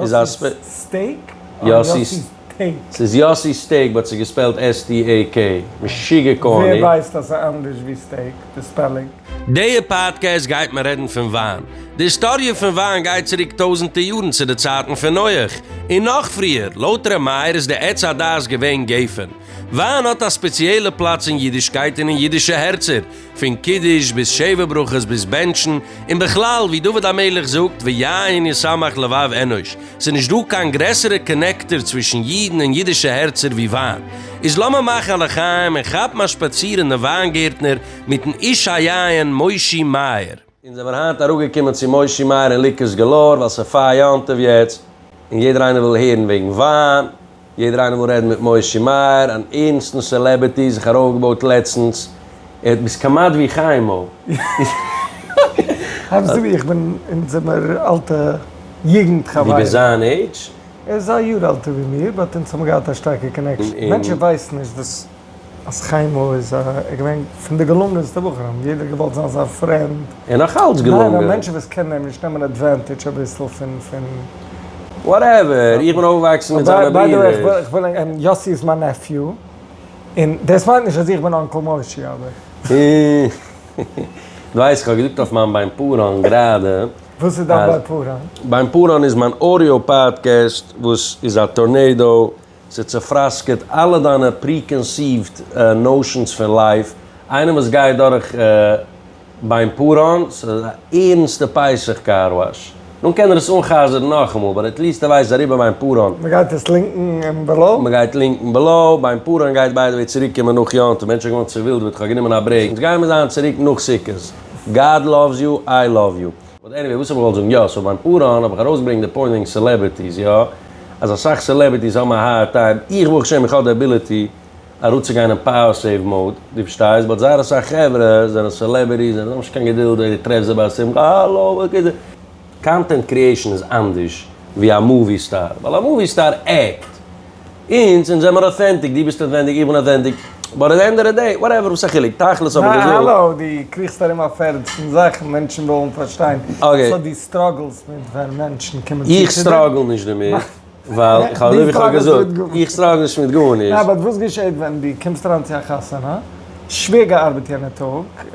איז א ספעק. יאסי סטעיק? אדער יאסי טעיק? ס'איז יאסי סטעיק באט ס'איז געספעלט STAK. משוגע קארני. ווער ווייסט אז ס'איז אנדערש ווי סטעיק די ספעלינג? דעיע פאדקעסט גייט מען רעדן פון וויין. די היסטאריע פון וויין גייט צוריק טויזענטע יארן צו די צייטן פון נוח און נאך פריער. לויט ר' מאיר איז די עץ הדעת געווען גפן. וויין האט א ספעציעלע פלאץ אין אידישקייט און אין אידישע הערצער. פון קידוש ביז שבע ברכות ביז בענטשן, און בכלל ווי דוד המלך זאגט ויין ישמח לבב אנוש, ס'איז נישט דא קיין גרעסערע קאנעקטער צווישן אידן און אידישע הערצער ווי וויין, איז לאמיר מאכן א לחיים און כאפן א שפאציר אין די וויינגערטנער מיטן איש היין מושי מאיר. אונז זעמער היינט אראפגעקומען צו מושי מאיר און ליקערס געלאור ווייל ס'איז פאר יום טוב יעצט און יעדער איינער וויל הערן וועגן וויין, יעדער איינער וויל רעדן מיט מושי מאיר, אן ערנסטן סעלעבערטי, זיך ארויפגעבויט לעצטנס, ער האט ביסט כמעט ווי חיים'ל. האלב אזויווי איך בין, אונז זעמער אלטע יוגנט חברים. דו ביסט זיין עידזש? ער איז א יאר עלטער ווי מיר באט אונז האבן געהאט א שטארקע קאנעקשאן, מענטשען ווייסן נישט וואס אז חיימא איז א ער געווען פון די געלונגענסטע בחורים, יעדער האט געוואלט זיין זיין פרענד. ער נאך אלץ געלונגען. ניין א מענטש וואס קען אים נישט נעמען עדווענטידזש אביסל פון פון. וואטעווער, איך בין אויפגעוואקסן מיט זיינע ברידער. יאסי איז מיין נעפיו, און דאס מיינט נישט אז איך בין אנקל מושי אבער. דו ווייסט איך האב געזאגט אויף מיין ביים פארהאן גראדע אז. וואס איז דיין ביים פארהאן? ביים פארהאן איז מיין אודיאו פאדקעסט וואס איז א טארנעידאו. ס'צופראסקעט אלע דיינע פרי-קאנסיווד נאושענס פון לייף, איינער וואס גייט דורך ביין פאראן, ס'איז א ערענסטע פסח קאר וואש, דאן קען ער עס אנ'חזר'ן נאכאמאל, באט עט ליעסט ער ווייסט אריבער ביין פאראן. מ'גייט עס לינקן אין בעלאו. מ'גייט לינקן בעלאו. ביין פאראן גייט ביי די וועי צוריק קומען נאך יום טוב, מענטשן האבן געווארן צעווילדעוועט, כ'האב גענומען א ברעיק, אונז גיימער זיין צוריק נאך סוכות, גאד לאווס יו, איי לאוו יו. באט עניוועי וואס האב איך געוואלט זאגן, יא סאו ביים פאראן האב איך ארויסגעברענגט די פוינט וועגן סעלעבערטיס, יא אז אסאך סעלעבערטיס האבן א הארד טיים, איך ברוך השם איך האב די אביליטי אראפצוגיין אין פאוער סעיוו מאוד, דו פארשטייסט, באט זייער אסאך חברה זענען סעלעבערטיס זיי האבן נישט קיין געדולד אוי דו טרעפסט זיי ביי א שמחה האלא וואס גייט זיך. קאנטענט קריעישן איז אנדערש ווי א מאווי סטאר ווייל א מאווי סטאר עקט אונז, אונז זעמער אוטענטיק, דו ביסט אוטענטיק, איך בין אוטענטיק, באט עט די ענד אוו די דעי, וואטעווער, וואס א חילוק, תכלית האב איך געזאגט. האלא, דו קריכסט ארום אויף ערנסטן זאכן, מענטשן ווילן פארשטיין, סאו דו סטראגלסט מיט ווען מענטשן קומען צו צו דיר? איך סטראגל נישט דערמיט, ווייל איך האב אזויווי איך האב געזאגט, איך סטראגל נישט מיט גארנישט. יא, באט וואס געשעט ווען דו קומסט אריין צו א חתונה? שווער געארבעט יענע טאג,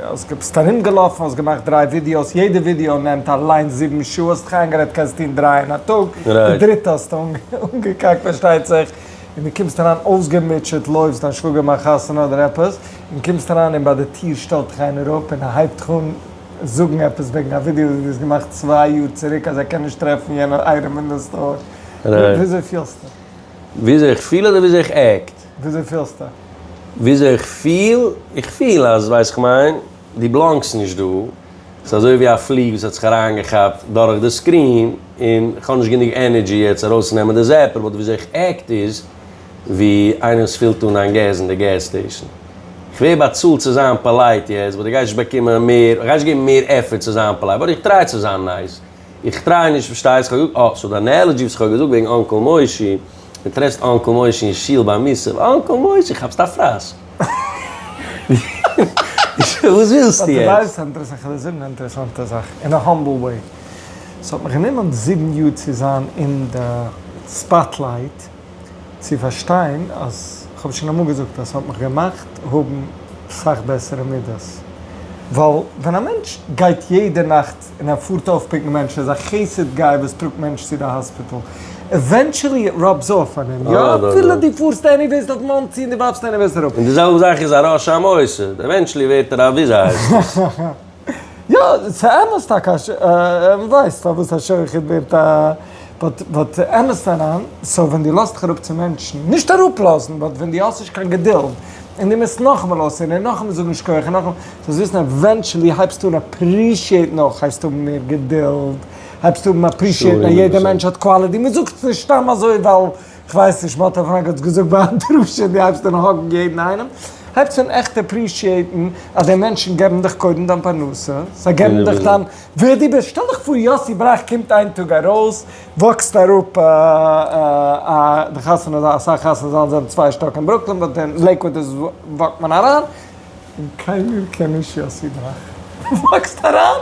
האסט ג ביסט ארום געלאפן, האסט געמאכט דריי ווידיאוס, יעדע ווידיאו נעמט אליינס זיבן שעה, האסט דיך איינגערעדט קענסט טון דריי אין א טאג, די דריטע האסטו אנגעקאקט פארשטייט זיך, און דו קומסט אריין אויסגעמוטשעט, לויפסט דיין שוואגער מאכט חתונה אדער עפעס, און קומסט אריין און ביי די טיר שטעלט דיך איינער אפ און הייבט דיך אן זאגן עפעס וועגן א ווידיאו וואס דו האסט געמאכט צוויי יאר צוריק אז ער קען נישט טרעפן יענע אייטעם אין די סטאר, וויאזוי פילסטו? וויאזוי איך פיל אדער וויאזוי איך עקט? וויאזוי פילסטו? וויאזוי איך פיל? איך פיל אז, ווייסט כ'מיין, דו בלאנגסט נישט דא. ס'איז אזוי ווי א פלי וואס האט זיך אריינגעכאפט דורך די סקרין, און כ'האב נישט גענוג ענערדזשי יעצט ארויסצונעמען די זעפער, באט וויאזוי איך עקט איז ווי איינער וואס פילט אן איין געז אין די געז סטעישן. כ'ווער באצאלט צו זיין פאלייט יעצט, באט איך גיי נישט באקומען מער, כ'גיי נישט געבן מער עפפערט צו זיין פאלייט, באט איך טריי צו זיין נייס. איך טריי נישט פארשטייסט כ'האב געזאגט אה סאו דיין נעלעדזשי וואס כ'האב געזאגט וועגן אנקעל מושי מען טרעפסט אנקעל מושי אין שול ביי מוסף אנקעל מושי כאפסט א פרעס וואס ווילסטו יעצט? אין א האמבל וועי ס'האט מיך גענומען זיבן יאר צו זיין אין די ספאטלייט. צו פארשטיין אז כ'האב שוין אמאל געזאגט אז ס'האט מיך געמאכט האבן סאך בעסערע מידות, ווייל ווען א מענטש גייט יעדע נאכט און ער פארט אויפפיקן מענטשן איז א חסד גיי וואס טראגט מענטשן צו די האספיטאל, עווענטשעלי איט ראבס אףף אן אים, יא אפילו דו פארסט עניוועיס אויף מאנסי און דו ווארפסט עניוועיס אראפ. און די זעלבע זאך איז א רשע המועסד, עווענטשעלי ווערט ער א וויאזוי הייסט עס. יא, ס'אמת טאקע אז ש ה ווייסט פארוואס א שוחט ווערט א באט באט אמת פאראן, סאו ווען דו לאזט דיך אראפ צו מענטשן, נישט אראפלאזן, באט ווען דו האסט נישט קיין געדולד, און דו מוזט נאכאמאל אויסהערן און נאכאמאל זאגן שכוח און נאכאמאל, זאלסט וויסן עווענטשעלי הייבסטו אן אפרישיעטן אויך הייסט האבן מער געדולד, הייבסטו האבן אפרישיעטן אז יעדער מענטש האט קוואליטי, מ'זאגט עס נישט סתם אזוי ווייל כ'ווייס נישט, מ'האט אויף מנגד געזאגט ביי א דרשה דו הייבסט אן האגן יעדן איינעם, הייבסט אן עכט עפרישיעיטן אז די מענטשן געבן דיך קודם דיין פרנסה, זיי געבן דיך דיין ווער דו ביסט, שטעל דיך פאר יאסי בראך קומט איין טאג ארויס, וואקסט אראפ א די חתונה זאל, אסאך חתונה זאלן זענען צוויי שטאק אין ברוקלין באט אין לעיקוואד איז וואקט מען אריין, און קיינער קען נישט יאסי בראך, וואקסט אריין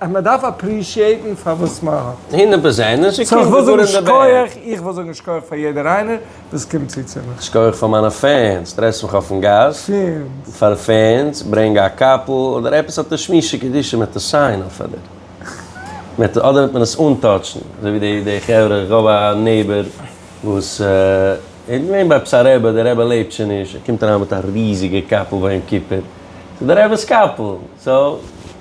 אז מען דארף אפרישיעטן פאר וואס מען האט. הונדערט פראצענט, און ס'קומט זיך גאר אין די בערג. איך וויל זאגן שכוח פאר יעדער איינער וואס קומט צו צו מיך. שכוח פאר מיינע פענס, טרעפסט מיך אויפן גאס. פענס. פאר פענס, ברענג א קאפל אדער עפעס אט א שמישע קדישא מען טאר סיין אויף אדער מען טאר אדער מען עס אנטאטשן אזוי ווי די די חברה איך האב א נעיבער וואס ער איז געווען ביי עפעס א רעבע די רעבע לעבט שוין נישט ער קומט אריין מיט א ריזיגע קאפל ביי יום כיפור ס'איז די רעבעס קאפל סאו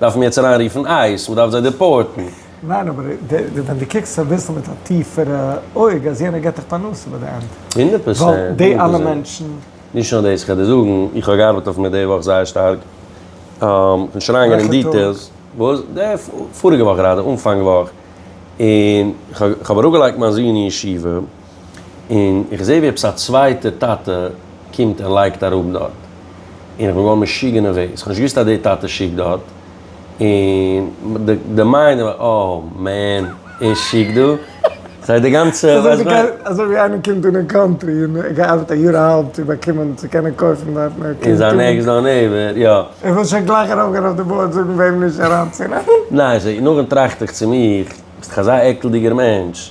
דארף מען יעצט אריין רופן אייס? מען דארף זיי דיפארטן? ניין אבער ווען די קוקסט אביסל מיט א טיפערע אויג אז יענער געט דיך פרנסה ביי די ענד. הונדערט פראצענט. ווייל די אלע מענטשן. נישט נאר דאס, כ'וועל דיר זאגן, איך האב געארבעט אויף מיר די וואך זייער שטארק, כ'וועל שוין אריינגיין אין דיטעילס. וועלכע טאג? וואס? די פאריגע וואך גראדע, אנפאנג וואך, און כ'האב אראפגעלייגט מיין זון אין ישיבה. און איך זעה ווי עפעס א צווייטער טאטע קומט און לייגט אראפ דארט, און איך בין געווארן משוגע נערוועז, כ'האב נישט געוואוסט אז די טאטע שיקט דארט, און די מיינד איז מיר אה מען, ער שיקט דא? ס'הייסט די גאנצע, ווייסט ווען. אזוי ווי איינער קומט אן אין קאנטרי און ער געארבעט א יאר אהאלב צו באקומען צו קענען קויפן דארטן ער קומט אן. און זיין נעקסט דאר נעיבער, יא. איך וואלט שוין גלייך ארויפגעהן אויף די בארד זאגן וועם נישט אריינצונעמען. ניין, נאכדעם טראכט איך צו מיך, ביסט דאך אזא עקלדיגער מענטש.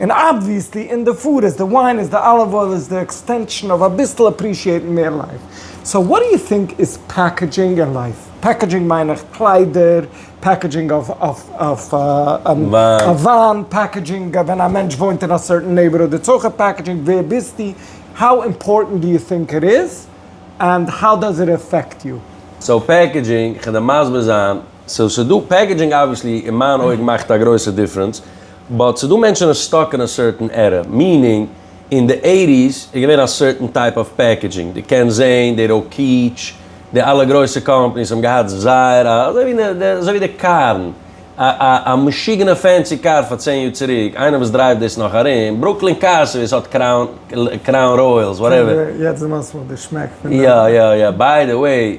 און אבוויעסלי אין די פוד איז די וויין איז די אליוו אויל איז די עקסטענשאן אויף אביסל אפרישיעטן מער לייף, סאו וואט דו יו טינק איז פעקעדזשינג אין לייף? פעקעדזשינג מיין איך קליידער, פעקעדזשינג אויף א וויין, פעקעדזשינג ווען א מענטש וואוינט אין א סערטען נעיבערהוד איטס אויך א פעקעדזשינג, ווער ביסטו? האו אימפארטענט דו יו טינק איט איז? ענד האו דאז איט עפעקט יו? סאו פעקעדזשינג, כדי מסביר זיין. סאו ס'איז דא פעקעדזשינג אבוויעסלי אין מיין אויגן מאכט א גרויסע דיפרענס, באט ס'איז דא מענטשן וואס סטאק אין א סערטען ערע, מיענינג אין די עיטיס איז געווען א סערטען טייפ אוו פעקעדזשינג, דו קענסט זעהן די ראקיטש, די אלע גרויסע קאמפעניס האבן געהאט זייער א, אזוי ווי די, אזוי ווי די קארן, א א א משוגענע פענסי קאר פאר צען יאר צוריק, איינער וואס דרייווט דאס נאך ארום, ברוקלין קארס סערוויס האט קראון, קראון ראיעלס, וואטעווער. יעצט דערמאנסטו מיך די שמעק פון די. יא יא יא, ביי די וועי.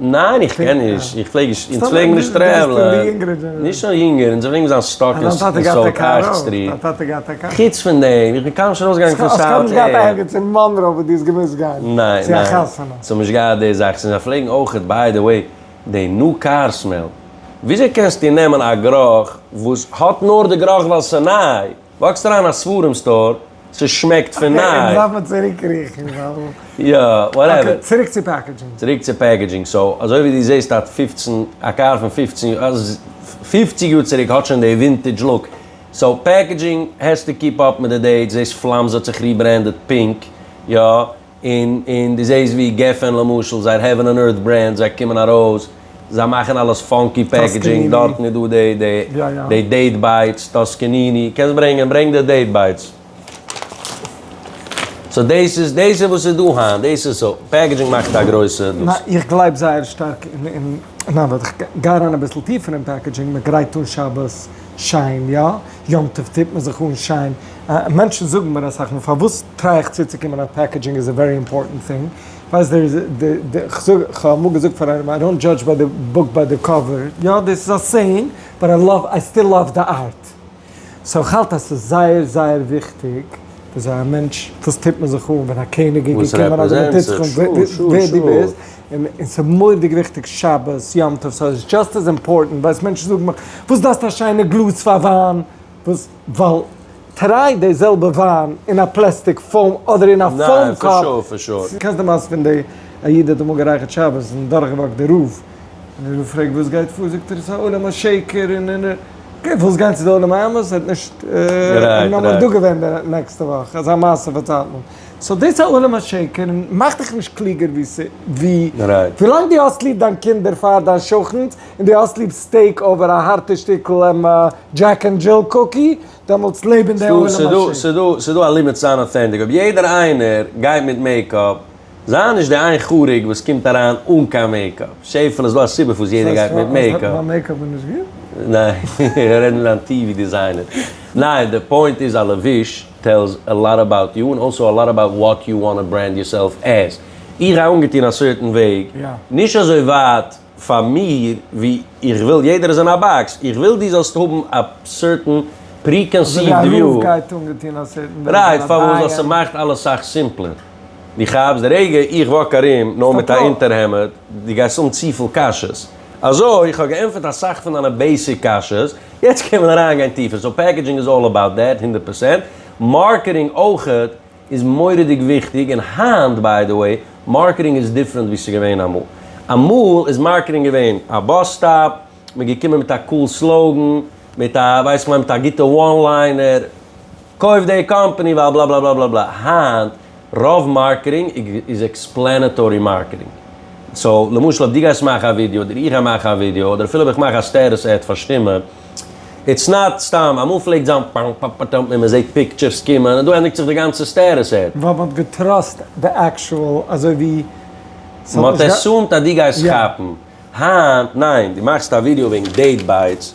ניין איך קען נישט, איך פלעג נישט, אונז פלעגן נישט טרעוולען, נישט נאר יונגערן, אונז פלעגן זיין סטאק אין סאוט אייכט סטריט, חוץ פון דעם, איך בין קיינמאל נישט ארויסגעגאנגען פון סאוט אייכט. האסט קיינמאל נישט געהאט ערגעץ אין מאנרא וואו דו האסט געמוזט גיין צו א חתונה? ניין, ס'האבן נישט געהאט די זאכן, זיי פלעגן אויכעט ביי די וועי די ניו קאר סמעל, וויאזוי קענסטו נעמען א גרח וואס האט נאר די גרח ווייל ס'ניי, וואקסט אריין אין א ספרים סטאר, ס'שמעקט פון ניי. אקעי, לאמיר צוריקקריכן ווייל. יא, וואטעווער. אקעי, צוריק צו פעקעדזשינג. צוריק צו פעקעדזשינג, סאו אזוי ווי דו זעסט א פֿופֿצן, א קאר פון פֿופֿצן יאר, פֿופֿציק יאר צוריק האט שוין די ווינטעדזש לוק, סאו פעקעדזשינג העסטו קיפ אפ מיט די דעיטס, דאס פלאם ז האט זיך ריברענדעד פינק, יא. און און דו זעהסט ווי גפן למשל זייער העווען אן ערט ברענד זיי קומען ארויס זיי מאכן אלעס פאנקי פעקעדזשינג דארטן איז דא די די די דעיט בייטס טאסקעניני קענסט ברענגען ברענג די דעיט בייטס סאו דעיס איז דעיס איז וואס איז דא היינט דעיס איז סאו פעקעדזשינג מאכט א גרויסע דאס. איך גלייב זייער שטארק אין אין נאר וואט איך גיי אריין אביסל טיפער אין פעקעדזשינג מען גרייט אן שבת שיין יא. יום טוב טוט מען זיך אן שיין, מענטשן זאגן מיר אסאך מאל פארוואס טריי איך צוצוקומען אז פעקעדזשינג איז א ווערי אימפארטענט טינג, ווייסט דער איז די די כ'זאג כ'האב אמאל געזאגט פאר איינעם איי דאנט דזשאדזש ביי די בוק ביי די קאווער, יא דאס איז א סעיאינג באט איי לאוו איי סטיל לאוו די ארט, סאו איך האלט אז ס'איז זייער זייער וויכטיג וויאזוי א מענטש וואס טוט מען זיך אן ווען א קעניג איז געקומען אדער מ'טוט זיך אן ווער דו ביסט. און און ס'איז מורא'דיג וויכטיג שבת יום טוב, סאו איטס דזשאסט עז אימפארטענט, ווייסט מענטשן זאגן מיך, וואס דארפסטו א שיינע גלאז פאר וויין, וואס, ווייל טריי די זעלבע וויין אין א פלעסטיק פאום אדער אין א פאום קאפ. קענסט די מעשה פון די א איד האט אמאל גערייכערט שבת און דורכגעוואקט די רב, און די רב פרעגט וואס גייט פאר, זאגט ער עס איז א עולם השקר און און און, אקעי ווילסט גיין צו די עולם האמת, ער האט נישט, נאמער דא געווען די נעקסטע וואך אזא מעשה פארציילט מען. סאו דאס איז עולם השקר און מאך דיך נישט קלוגער ווי ווי ווילאנג דו האסט ליב דיין קינדער פאר דיין שכן'ס און דו האסט ליב סטעיק אווער א הארטע שטיקל דזשעק און דזשיל קוקי דעמאלטס לעב אין די עולם השקר. ס'איז דא א לימיט צו זיין אוטענטיק, אויב יעדער איינער גייט מיט מעיקאפ, זיי נישט די איין חריג וואס קומט אריין אן קיין מעיקאפ, שעפעלע איז דא א סיבה פארוואס יעדער גייט מיט מעיקאפ. מיין מעיקאפ איז נישט גוט? ניין, איך רעד מיט דיין טיווי דיזיינער. ניין, די פוינט איז א לבוש. טעלס א לאט אבאוט יו, און אלסאו א לאט אבאוט וואט יו וואנט טו ברענד יורסעלף עז. איך גיי אנגעטון א סערטען וועג, נישט אזוי ווייט פאר מיר ווי איך וויל, יעדער איז אין א באקס, איך וויל דו זאלסט האבן א סערטען פרי-קאנסיווט וויו. אזוי ווי א רב גייט אנגעטון א סערטען וועג, אן א דיין. רייט, פארוואס? ווייל ס'מאכט אלעס סאך סימפלער. דו כאפסט? די רגע איך וואק ארום נאר מיט א אונטערהעמד, דו גייסט האבן צופיל קאשעס. אזוי, איך האב געענטפערט אסאך פון דיינע בעיסיק קשיות, יעצט קען מען אריין גיין טיפער, סאו פעקעדזשינג איז אלל אבאוט דעט, הונדערט פראצענט, מארקעטינג אויך איז מורא'דיג וויכטיג, און היינט ביי די וועי, מארקעטינג איז דיפרענט ווי ס'איז געווען אמאל, אמאל איז מארקעטינג געווען א באס סטאפ, מ'איז געקומען מיט א קול סלאוגען, מיט א ווייס איך מיין מיט א גוטע וואן ליינער, קויף די קאמפאני ווייל בלאבלאבלאבלאבלא, היינט. רוב מארקעטינג איז עקספלענעטארי מארקעטינג. סאו למשל אויב דו גייסט מאכן א ווידיאו אדער איך גיי מאכן א ווידיאו אדער אפילו אויב איך מאך א סטעטוס עד פאר שטימע איטס נאט סתם אמאל פלעגט זיין פאם פאם פאטאם און מען זעהט פיקטשערס קומען און דא ענדיגט זיך די גאנצע סטעטוס עד. ווייל מ'האט געטראסט די עקשועל אזוי ווי ס'האט נישט גע. מ'האט עסומד אז דו גייסט כאפן. היינט ניין דו מאכסט א ווידיאו וועגן דעיט בייטס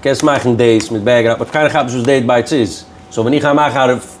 קענסט מאכן דעיס מיט בעקגראונד באט קיינער כאפט נישט וואס דעיט בייטס איז סאו ווען איך גיי מאכן א.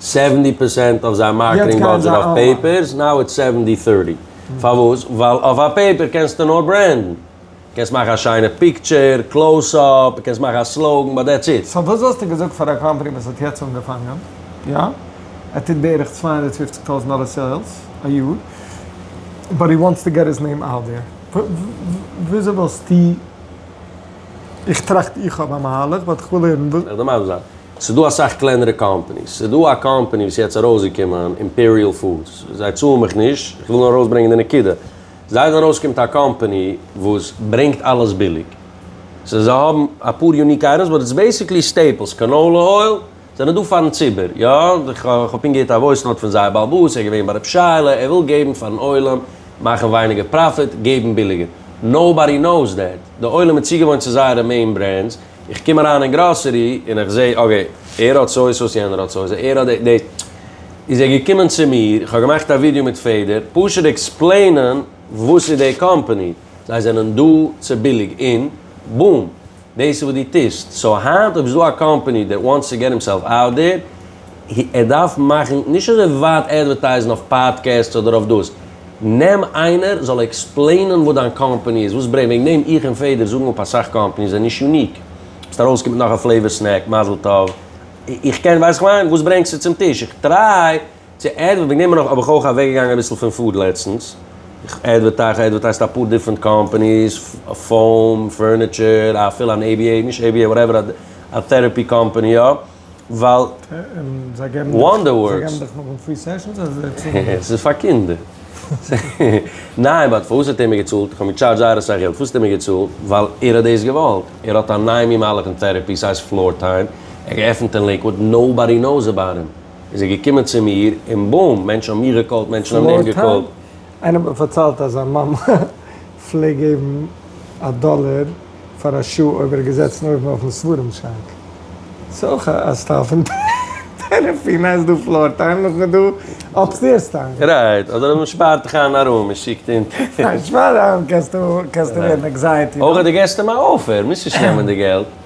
סעווענטי פערסענט אויף זיין מארקעטינג בודזשעט אויף פעיפערס, נאו איטס סעווענטי טערטי, פארוואס? ווייל אויף א פעיפער קענסטו נאר ברענדן, קענסט מאכן א שיינע פיקטשער, קלאוס אפ, קענסט מאכן א סלאוגן, באט דעטס איט. סאו וואס וואלסטו געזאגט פאר א קאמפעני וואס האט יעצט אנגעפאנגען, יא, ער טוט בערך צוויי הונדערט פֿופֿציק טויזנט דאלער סעילס א יאר, באט הי וואנטס טו געט היז נעים אוט דעיר, וויאזוי וואלסטו? איך טראכט איך האב א מהלך באט כ'וויל הערן וואס. איך דערמאן זיך, ס'איז דא אסאך קלענערע קאמפעניס, ס'איז דא א קאמפעני וואס איז יעצט ארויסגעקומען אימפעריעל פודס, זיי צאלן מיך נישט, כ'וויל נאר ארויסברענגען די נקודה, זייט ארויסקומט א קאמפעני וואס ברענגט אלעס ביליג, ס'איז זיי האבן אפאר יוניק אייטעמס באט איטס בעסיקלי סטעיפלס, קאנאולע אויל. זענען דא פארן ציבור, יא, איך האב פונקט געהערט א וואויס נאוט פון זייער בעל באס, ער איז געווען ביי רב שי ל, ער וויל געבן פארן עולם, מאכן ווייניגער פראפיט, געבן ביליגער. נאובאדי נאוס דעט, די עולם איז צוגעוואוינט צו זייערע מעין ברענדס, איך קום אריין אין גראסערי און איך זע, אקעי, ער האט סוי סאוס, יענער האט סוי סאוס, ער האט דעיס, איז ער געקומען צו מיר, איך האב געמאכט א ווידיאו מיט פעדער, פשוט עקספלעינען וואס איז די קאמפאני, זיי זענען דא צו ביליג און בום! דאס איז וואס דו טוסט. סאו היינט אויב ס'דא א קאמפעני דעט וואנטס טו געט הימסעלף אוט דער, ער דארף מאכן, נישט אזוי ווייט עדווערטייזן אויף פאדקעסטס אדער אויף דאס, נעם איינער זאל עקספלעינען וואס דיין קאמפעני איז, וואס ברענג, וועגן דעם איך און פעדער זאגן אפ אסאך קאמפעניס זענען נישט יוניק. ביסט ארויסגעקומען מיט נאך א פלעיוואר סנעק, מזל טוב. איך קען, ווייסט איך מיין, וואס ברענגסטו צום טיש? איך טריי. צו עדווערטינג נעמען אויף האב איך אויך אוועקגעגאנגען אביסל פון פוד לעצטנס. איך עדווערטייז, איך עדווערטייזט אפאר דיפרענט קאמפאניס, פאום, פערניטשער, אפילו אן ABA, נישט ABA, וואטעווער, א טעראפי קאמפאני יא, ווייל וואנדער ווארקס. זיי געבן דיך נאכדעם פרי סעשאנס אדער זיי צאלן דיר? ס'איז פאר קינדער. ניין באט פארוואס האט ער מיר געצאלט? איך האב אים געטשארדזשט זייער אסאך געלט, פארוואס האט ער מיר געצאלט? ווייל ער האט דאס געוואלט. ער האט א נייעמי מהלך אין טעראפי, ס'הייסט פלאר טיים, ער האט געעפנט אין לעיקוואוד, נאובאדי נאוס אבאוט הים. איז ער געקומען צו מיר, און בום! מענטשן האבן מיך געקאלט, מענטשן האבן אים געקאלט. איינער האט מיר פארציילט אז זיין מאמע פלעגט געבן א דאלער פאר א שעה אויב ער איז געזעצן אויבן אויפן ספרים שאנק. ס'איז אויך א סטייל פון טערעפי. ניין, ס'איז דא פלאר טיים, נאכדעם איז דא אפסטעירס טיים. רייט, אדער אז מען שפארט דיך איין א רום און שיקט אונטער. ניין, שפאר אריין קענסטו ווערן ענקזייעטי. אויך אז דו געסט אים א אפער, מוזט נישט נעמען די געלט.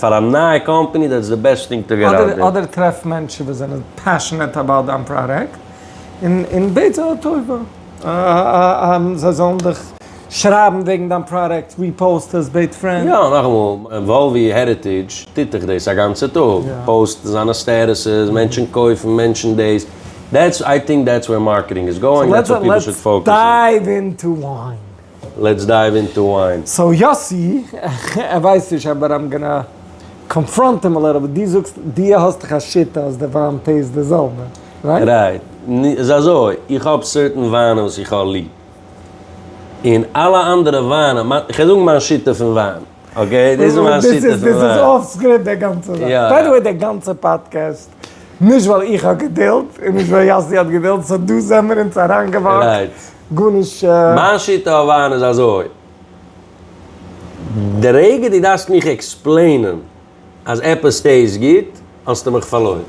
פאר א נייע קאמפעני דעטס די בעסט טינג טו געט אוט דער. אדער טרעף מענטשן וואס זענען פעשענעט אבאוט דיין פראדאקט און און בעט זיי א טובה זיי זאלן דיך שרייבן וועגן דיין פראדאקט, ריפאוסט עס, בעט פרענד. יא, נאכאמאל, וואלווי העריטעדזש טוט דאך דאס א גאנצע טאג, פאוסט זיינע סטעטוסעס, מענטשן קויפן, מענטשן דאס, דעטס, איי טינק דעטס ווער מארקעטינג איז גאוינג, דעטס וואט פיפל שוד פאוקעס אן. לעטס דייוו אינטו וויין. סאו יאסי, ער ווייסט נישט אבער איים גאנא קאנפראנט הים א ליטל ביט, דו זאגסט דו האסט דאך א שיטה אז די וויין טעיסט די זעלבע, רייט? רייט, ס'איז אזוי, איך האב סערטען וויינען וואס איך האב ליב, און אלע אנדערע וויינען, כ'וועל זאגן מיין שיטה פון וויין, אקעי, דאס איז מיין שיטה פון וויין. דאס איז אףף סקריפט די גאנצע זאך. יא. ביי די וועי די גאנצע פאדקעסט, נישט ווייל איך האב געדולד, און נישט ווייל יאסי האט געדולד, סאו דא זעמער אונז אריינגעוואקט. רייט. גארנישט. מיין שיטה אויף וויין איז אזוי, די רגע דו דארפסט מיך עקספלעינען אז עפעס טעיסט גוט, האסטו מיך פארלוירן.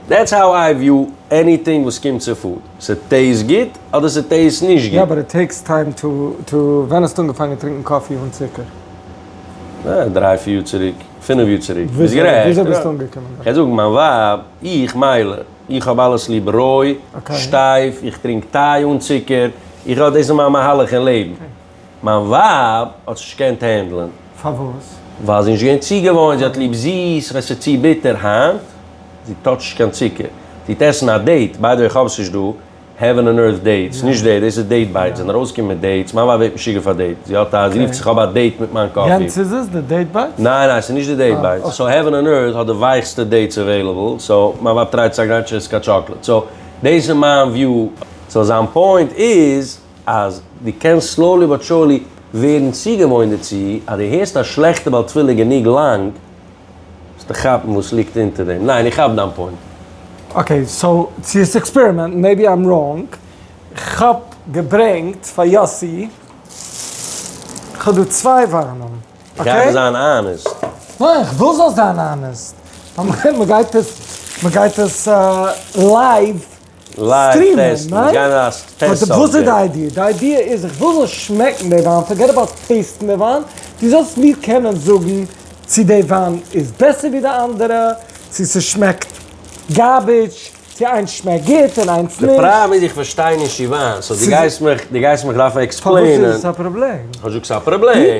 דעטס האו איי וויו עניטינג וואס קומט צו פוד. ס'טעיסט גוט אדער ס'טעיסט נישט גוט. יא באט איט טעיקס טיים טו טו. ווען האסטו אנגעפאנגען טרינקען קאפי אן צוקער? אה, דריי פיר יאר צוריק, פינף יאר צוריק. ביזט גערעכט. וויאזוי ביזטו אנגעקומען דארט? כ'וועל זאגן, מיין ווייב, איך, מיילער. איך האב אלעס ליב רוי, שטייף, איך טרינק טיי אן צוקער, איך האב דאס איז מיין מהלך אין לעבן. מיין ווייב האט עס נישט געקענט הענדלען. פארוואס? ווייל זי איז נישט געווען צוגעוואוינט, זי האט ליב זיס, און עס איז צו ביטער היינט, זי טאטשט נישט קיין צוקער. זי טוט עסן א דעיט, ביי די וועי איך האב עס נישט דא, העווען און ערט דעיטס, נישט דעיט, דאס איז דעיט בייטס, זענען ארויסגעקומען מיט דעיטס, מיין ווייב ווערט משוגע פאר דעיטס, זי האט א, זי רופט זיך אויף א דעיט מיט מיין קאפי. יענץ איז עס? די דעיט בייטס? ניין ניין ס'איז נישט די דעיט בייטס, סאו העווען און ערט האט די ווייכסטע דעיטס עוועילעבל, סאו מיין ווייב טרייט צו אגריין טשעסקא טשאקלעט, סאו דאס איז מיין וויו. סאו זיין פוינט איז אז דו קענסט סלאולי באט שאולי ווערן צוגעוואוינט דערצו אז דו הערסט א שלעכטע בעל תפילה גענוג לאנג, זאלסטו כאפן וואס ליגט אונטער דעם. ניין, איך כאפ דיין פוינט. אקעי, סאו צו עס עקספערימענטן, מעיבי איים ראנג, כאב געברענגט פאר יאסי, כאב דא צוויי וויינען, אקעי? גיי אבער זיין אנעסט. ניין, איך וויל זאלסט זיין אנעסט. מ'גייט עס לייוו. סטרימען, ניין? באט וואס איז די איידיע? די איידיע איז איך וויל זאלן שמעקן די וויין, פארגעט אבאוט טעיסטן די וויין, דו זאלסט מיר קענען זאגן צו די וויין איז בעסער ווי די אנדערע, צו ס'שמעקט גארביטש, צו איינס שמעקט גוט און איינס נישט. די פראבלעם איז איך פארשטיי נישט אין וויין, סאו דו גייסט מיך דארפן עקספלעינען. פארוואס איז עס א פראבלעם? כ'זאג ס'איז א פראבלעם.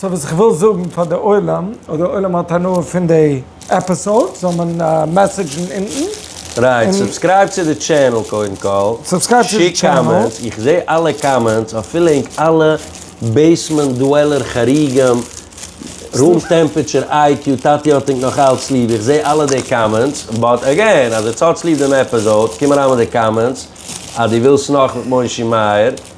סאו וואס איך וויל זאגן פאר די עולם, אויב די עולם האט הנאה פון די עפיסאוד זאל מען מעסעדזשן אונטן. רייט, סובסקרייב צו די טשענעל קודם כל, שיק קאמענטס, איך זע אלע קאמענטס, אפילו ענק אלע בעיסמענט דוועלער חריגים, רום טעמפעטשער איי קיו, טאטי האט ענק נאך אלץ ליב, איך זע אלע די קאמענטס, באט עגעין אז עטס האטס ליב דעם עפיסאוד, קום אריין מיט די קאמענטס אז דו ווילסט נאך מיט מושי מאיר,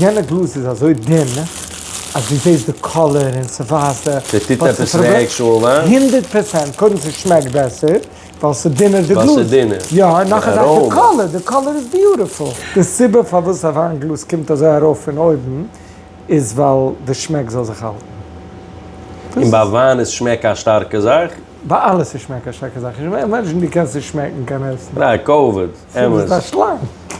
יענע גלאז איז אזוי דין אז דו זעסט די קאלער און ס'ווייזט די. ס'טוט עפעס וועג שואל א. הונדערט פראצענט, קודם ס'שמעקט בעסער ווייל ס'דינער די גלאז. ווייל ס'דינער. יא און נאך א זאך די קאלער, די קאלער איז ביוטיפול. די סיבה פארוואס א וויין גלאז קומט אזוי ארויף פון אויבן איז ווייל די שמעק זאל זיך האלטן. און ביי וויין איז שמעק א שטארקע זאך. ביי אלעס איז שמעק א שטארקע זאך, נישט ביי מענטשן, דו קענסט נישט שמעקן קיין עסן. א כבוד, אמת. דו ביסט א שלאנג.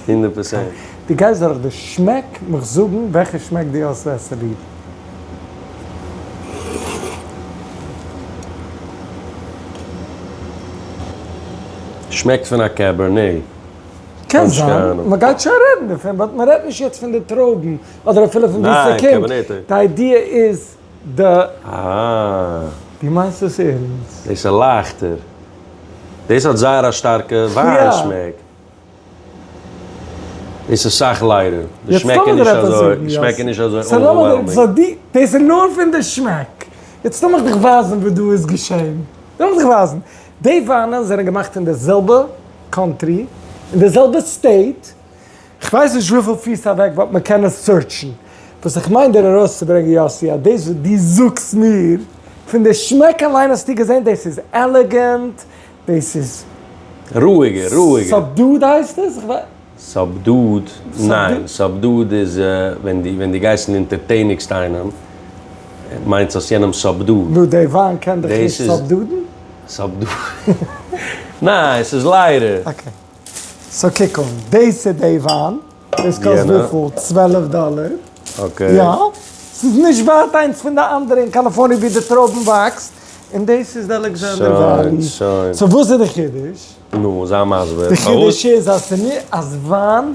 הונדערט פראצענט. דו גייסט דורך די שמעק מיך זאגן וועלכע שמעק דו האסט בעסער ליב. שמעקט פון א קעבערנעי. קען זיין, מען גייט שוין רעדן דערפון, באט מען רעדט נישט יעצט פון די טרויבן, אדער אפילו פון ווי ס'קומט, די איידיע איז. די. די מיינסט עס ערענסט? דאס איז לייכטער. דאס האט זייער א שטארקע וויין שמעק. דאס איז סאך לייטער. די שמעק איז נישט אזוי. די שמעק איז נישט אזוי אווערוועלמינג. דאס איז נאר פון די שמעק. יעצט לאמיך דיך ווייזן וואס דא איז געשען. לאמיך דיך ווייזן. די וויינען זענען געמאכט אין די זעלבע קאנטרי, אין די זעלבע סטעיט. כ'ווייס נישט וויפיל פיס אוועק וואלט מען קענען סוירטשן. וואס איך מיין דיר ארויסצוברענגען יאסי אז דאס וואס דו זאגסט מיר, פון די שמעק אליין האסטו געזען דאס איז עלעגענט, דאס איז. רואיגער, רואיגער. סאבדוד הייסט עס? כ'ווייס. סאבדוד? ניין, סאבדוד איז ווען דו ווען דו גייסט און אינטערטעניגסט איינעם, מיינסט האסט יענעם סאבדוד. נו, דער וויין קען דיך נישט סאבדודן? סאבדוד? ניין, ס'איז ליידער. אקעי. סאו קוק אן, דאס איז דעי וואן, דאס קאסט וויפיל? צוועלף דאלער, יא, ס'איז נישט ווייט איינס פון די אנדערע אין קאליפארניע ווי די טרויבן וואקסט, און דאס איז די אלעקזענדער וויין, סאו וואס איז די חידוש? נו, זיי מסביר, פארוואס? די חידוש איז אז וויין.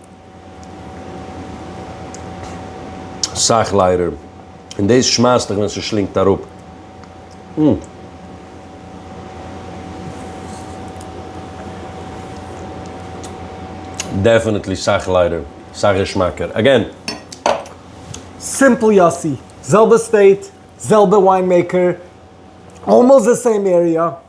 סאך ליידער, און דאס שמייסט דיך ווען ס'שלינגט אראפ. אום. דעפענעטלי סאך ליידער, סאך געשמאקער. אגעין. סימפל יאסי, זעלבע סטעיט, זעלבע וויין מעיקער, אלמאסט די סעים עריע,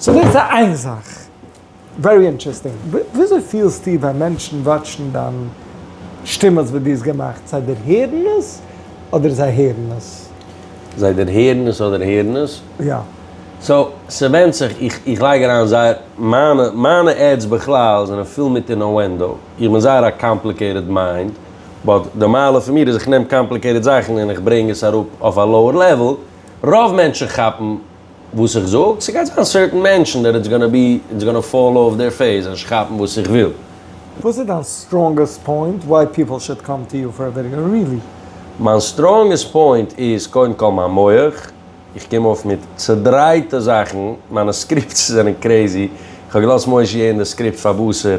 סאו דאס איז איין זאך. ווערי אינטערעסטינג. וויאזוי פילסטו ווען מענטשן וואטשן דיין שטימעס וואס דו האסט געמאכט? זיי דערהערן עס אדער זיי הערן עס? זיי דערהערן עס אדער הערן עס? יא. סאו ס'ווענדט זיך, איך איך לייג אריין זייער, מיינע מיינע עדס בכלל זענען פול מיט אינאוענדא, איך בין זייער א קאמפליקעיטעד מיינד, באט די מעלה פון מיר איז איך נעם קאמפליקעיטעד זאכן און איך ברענג עס אראפ אויף א לאוער לעוועל, רוב מענטשן כאפן. וואס איך זאג, ס'גייט זיין סערטען מענטשן דעט איטס גאנא בי, איטס גאנא פאל אף דעיר פעיס אז נישט כאפן וואס איך וויל. וואס איז דיין סטראנגעסט פוינט וויי פיפל שוד קאם טו יו פאר א ווידעא? רילי? מיין סטראנגעסט פוינט איז קודם כל מיין מח, איך קום אויף מיט צעדרייטע זאכן, מיינע סקריפטס זענען קרעזי, איך האב געלאזט מוישי אין די סקריפט פאר וואסער.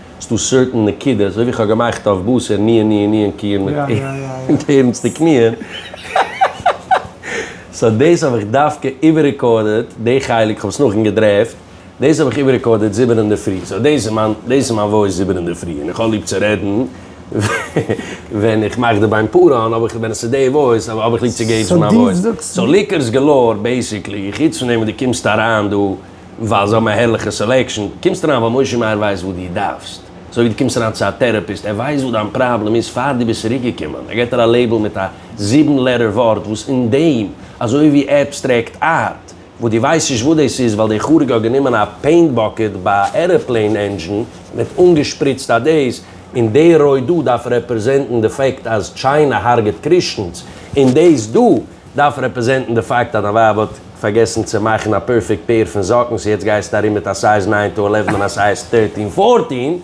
ס'דא סערטען נקודות, אזוי ווי כ'האב געמאכט אויף בשר ניען ניען ניען קיען מיט ערענסטע קניען, סא דאס האב איך דווקא איבעררעקארדעט די חלק, כ'האב עס נאכדעם געדרעפט, דאס האב איך איבעררעקארדעט זיבען אינדערפרי, סא דאס איז מיין דאס איז מיין וואויס זיבען אינדערפרי, און איך האב ליב צו רעדן ווען איך מאך די ביין פאר אן, אבער ווען עס איז די וואויס האב איך ליב צו געבן מיין וואויס, סא ליקערס געלאור בעיסיקלי, חוץ פון דעם וואס דו קומסט אריין דא. ווייל זיי האבן א הערליכע סעלעקשאן, קומסט אריין ווייל משה מאיר ווייסט וואס דו דארפסט, אזוי ווי דו קומסט אריין צו א טערעפיסט, ער ווייסט וואס דיין פראבלעם איז פאר דו ביסט צוריק געקומען, ער געט דיר א לעיבל מיט א זיבן לעטער ווארט וואס אין דעם, אזוי ווי עבסטרעקט ארט, וואס דו ווייסט נישט וואס דאס איז ווייל דער חריג האט גענומען א פעינט באקעט ביי א ערעפלעין ענדזשין און האט אנגעשפריצט אט דאס, און די רויט דא דארף רעפרעזענטן די פאקט אז טשיינע הארגעט קריסטענס, און דאס דא. דארף רעפרעזענטן די פאקט אז דיין ווייב האט פארגעסן צו מאכן א פערפעקט פעיר פון זאקן סאו יעצט גייסטו ארום מיט א סייז ניין טו עלעוון און א סייז טערטין פארטין דו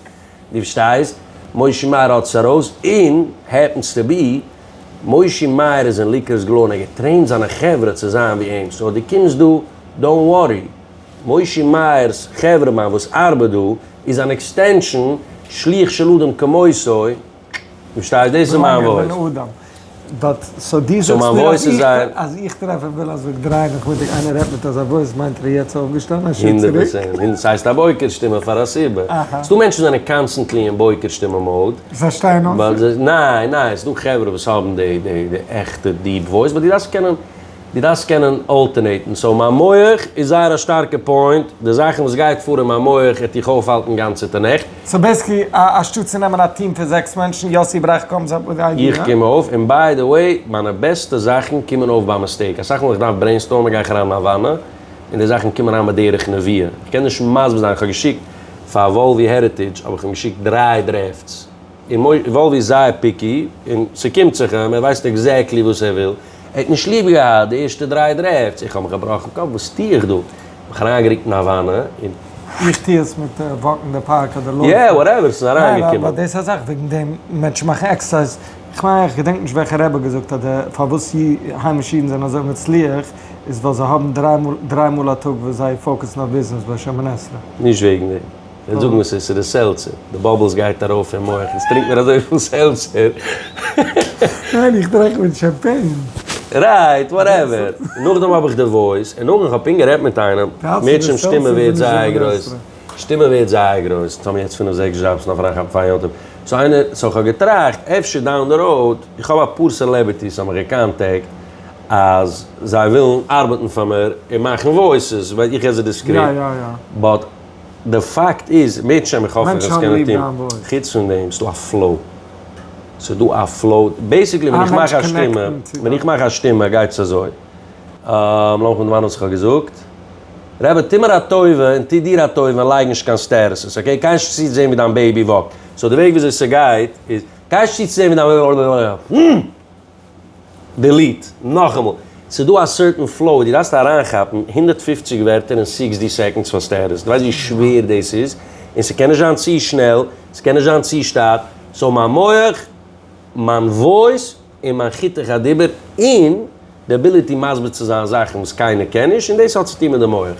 פארשטייסט מושי מאיר האט עס ארויס און העפענס טו בי מושי מאיר איז אין ליקערס גלו און ער געטרעינט זיינע חברה צו זיין ווי אים סאו אז דו קומסט דא דאונט ווארי מושי מאיר'ס חברה מיין וואס ארבעט דא איז אן עקסטענשאן שליח של אדם כמותו. פארשטייסט? דאס איז מיין וואויס. באט סאו דו זאגסט מיר אז איך, אז איך טרעף אים וויל אז איך דריי מיך מיט די, איינער רעדט מיט אזא וואויס מיינט ער איז יעצט אויפגעשטאנען א שעה צוריק? הונדערט פראצענט, הונדערט, ס'הייסט א בוקר שטימע פאר א סיבה. אהא. ס'דא מענטשן וואס זענען קאנסטענטלי אין בוקר שטימע מאוד. זיי שטייען אויף? ווייל זיי, ניין, ניין, ס'דא חברה וואס האבן די, די, די עכטע דיעפ וואויס, באט דו דארפסט קענען. דו דארפסט קענען אלטערנעיטן, סאו מיין מח איז זייער א שטארקע פוינט, די זאכן וואס גייט פאר אין מיין מח העט איך אויפהאלטן גאנצעטע נעכט. סאו בעיסקלי אנשטאט צו נעמען א טיעם פון זעקס מענטשן, יאסי ברייך קאמס אפ וויט די איידיע. איך קום אויף, און ביי די וועי, מיינע בעסטע זאכן קומען אויף ביי מיסטעיק, אסאך מאל איך דארף ברעינסטארמען גיי איך אריין אין א וואנע, און די זאכן קומען אריין בדרך נביאה. איך קען נישט מסביר זיין, איך האב געשיקט פאר וואלווי העריטעדזש האב איך אים געשיקט דרײַ דרעפטס, און וואלווי איז זייער פיקי, און ס'קומט זיך אים, ער ווייסט עקזעקטלי וואס ער וויל. ער האט נישט ליב געהאט די ערשטע דריי דרעפטס, איך האב מיך געבראכן קאפ וואס טוה איך דא, מיך אריינגערוקט אין א וואנע און. איך טוה עס מיט וואקן אין די פארק אדער לויפן. יע, וואטעווער, ס'איז אריינגעקומען. ניין, אבער דאס איז א זאך וועגן דעם מענטשן מאכן עקסערסייז, איך מיין איך געדענק נישט וועלכע רבי האט געזאגט אז די פארוואס היימישע אידן זענען אזוי מצליח איז ווייל זיי האבן דריי מאל דריי מאל א טאג וואס זיי פאוקעסן אויף ביזנעס בית שמונה עשרה. נישט וועגן דעם. וועט זאגן וואס עס איז די סעלצער, די באבלס גייט ארויף אין מח, יעצט טרינק מיר אזויפיל סעלצער. ניין איך טרעך מיט שאמפעין. רייט, וואטעווער. נאכדעם האב איך די וואויס, און נאכדעם איך האב פונקט גערעדט מיט איינעם, מערטשעם שטימע ווערט זייער גרויס, שטימע ווערט זייער גרויס, יעצט האבן מיר יעצט פינף זעקס דזשאבס נאך פאר איך פאר יום טוב, סאו איינער, סאו איך האב געטראכט, אפשר דאון די ראוד, איך האב אפאר סעלעבערטיס האבן מיך געקאנטעקט, אז זיי ווילן ארבעטן פאר מיר, און מאכן וואויסעס, ווייל איך עס זיי די סקריפט, באט. די פאקט איז, מענטשן האבן איך האף איך וועל עס קענען טון, חוץ פון דעם, ס'דא א פלאו, ס'דא א פלאו, בעיסיקלי ווען איך מאך א שטימע, ווען איך מאך א שטימע גייט עס אזוי, לאז מיך דערמאנען וואס איך האב געזאגט, רבי טו מיר א טובה און טו דיר א טובה און לייג נישט קיין סטערעסעס, אקעי, קיין נישט צוזעהן ווי דיין בעיבי וואקט, סאו די וועג וויאזוי ס'גייט איז, קיין נישט צוזעהן ווי דיין בעיבי וואקט, דעליט, נאכאמאל, ס'איז דא א סערטען פלאו ווי דו דארפסט אריינכאפן הונדערט פֿופֿציק ווערטער אין סיקסטי סעקאנדס פאר סטעטוס, דו ווייסט ווי שווער דאס איז? און ס'קען נישט זיין צו שנעל, ס'קען נישט זיין צו שטייט, סאו מיין מח, מיין וואויס, און מיין חיתוך הדיבור, און די עביליטי מסביר צו זיין זאכן וואס קיינער קען נישט, און דאס האט צוטון מיט די מח.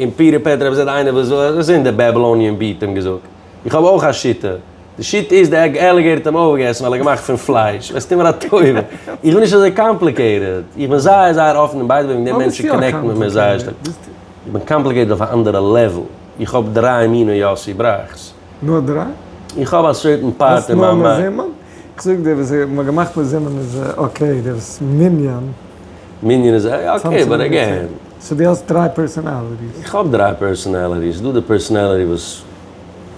און פי רעפעט רב ז ל איינער וואס איז אין די בעבלאניען בי ת האט אים געזאגט, איך האב אויך א שיטה, די שיטה איז די עג עלעגעיטער האט אים אויפגעגעסן ווייל ער געמאכט פון פלייש, וועסט טון מיר א טובה, איך בין נישט אזוי קאמפליקעיטעד, איך בין זייער זייער אפן און ביי די וועי ווען די מענטשן קאנעקטן מיט מיר זייער שטארק, איך בין קאמפליקעיטעד אויף א אנדערע לעוועל, איך האב דריי מיני יאסי בראכ'ס. נאר דריי? איך האב א סערטען פארט אין מיין ביין. האסט נאר מזומן? איך זאג דיר וואס מ'האט געמאכט מזומן איז אקעי, די וואס מנין. מנין איז אקעי באט אגעין. סאו דו האסט דריי פערסאנאליטיס? איך האב דריי פערסאנאליטיס, ס'דא די פערסאנאליטי וואס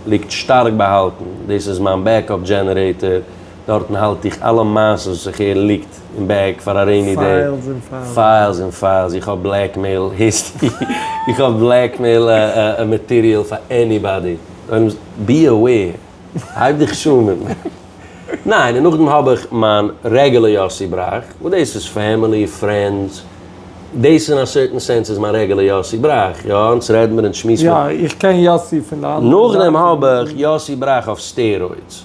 ליגט שטארק באהאלטן, דאס איז מיין בעקאפ דזשענערעיטער, דארטן האלט איך אלע מעשות וואס איך הער ליגט אין בעג פאר א רעיני דעי. פיילס און פיילס. פיילס און פיילס, איך האב בלעקמעיל היסטערי, איך האב בלעקמעיל מאטעריאל פאר עניבאדי, בי אוועיר, הייב דיך שוין מיט מיר. ניין, און נאכדעם האב איך מיין רעגולער יאסי בראך, וואס דאס איז פעמילי, פרענדס, דאס אין א סערטען סענס איז מיין רעגולער יאסי בראך, יא, אונז רעד מיר און שמועס מיר. יא, איך קען יאסי פון די אנדערע זייט. נאכדעם האב איך יאסי בראך אויף סטערוידס.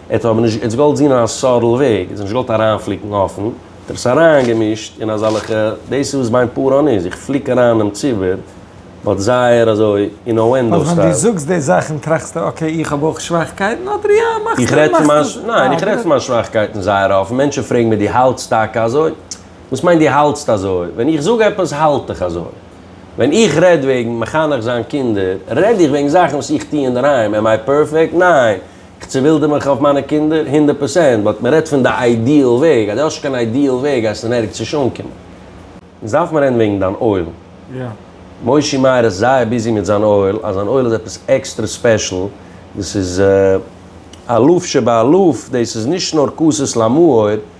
ער האט אבער נישט געוואלט זין א סאדל וועג, ער האט זיך נישט געוואלט אריינפליקן אפען, האט ער עס אריינגעמישט אין אזאלעכע, דאס איז וואס בעין פאראן איז, איך פליק אריין דעם ציבור, באט זייער אזוי אינאוענדאו סטייל. ווען דו זאגסט די זאכן טראכסטו אקעי איך האב אויך שוואכקייטן אדער יא מאכסט איך רעד פון מיין, ניין איך רעד פון מיין שוואכקייטן זייער אפען, מענטשן פרעגן מיר דו האלטסט טאקע אזוי? וואס מיינט דו האלטסט אזוי? ווען איך זאג עפעס האלט איך אזוי. ווען איך רעד וועגן מחנך זיין קינדער, רעד איך וועגן זאכן וואס איך טוה אינדערהיים, עם איי פערפעקט? ניין! כ'צעווילדער מיך אויף מיינע קינדער? הונדערט פראצענט, באט מ'רעדט פון די איידיעל וועג, אז דו האסט נישט קיין איידיעל וועג גייסטו אין ערגעץ נישט אנקומען. יעצט דארף מען רעדן וועגן דיין אוהל. מושי מאיר איז זייער ביזי מיט זיין אוהל, אז זיין אוהל איז עפעס עקסטרע ספעשל, דאס איז אלוף שבאלוף, דאס איז נישט נאר כוסות למאור,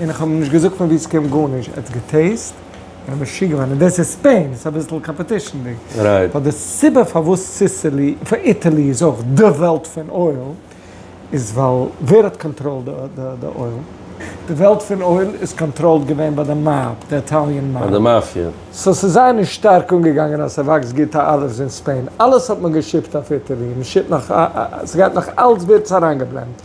און איך האב אים נישט געזאגט פון ווי סקומט גארנישט ער האט געטעיסט און ער משוגע געווארן און דאס איז ספעין דאס איז אביסל קאמפעטישנדיג ווייל די סיבה פארוואס סיסילי פאר איטעלי איז אויך די וועלט פון אויל איז ווייל ווער האט קאנטראל די אויל? די וועלט פון אויל איז קאנטראלד געווען ביי די מאב די איטאליען מאב ביי די מאפיא סאו ס'איז זיי נישט שטארק אנגעגאנגען אז ס'וואקסט גוט אלעווערס אין ספעין אלעס האט מען געשיפט אויף איטעלי מ'שיפט נאך ס'גייט נאך אלס ווערטס אריינגעבלענדט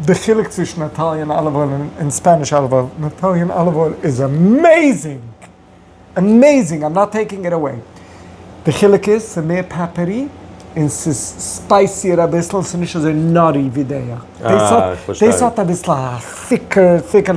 די חילוק צווישן איטאליען אליוו אויל און ספעניש אליוו אויל, איטאליען אליוו אויל איז עמעיזינג! עמעיזינג! איים נאט טעיקינג איט עוועי! די חילוק איז ס'איז מער פעפערי און ס'איז ספייסיער אביסל און ס'איז נישט אזוי נאטי ווי דעיע. דעיס האט אביסל א סיקער סיקער.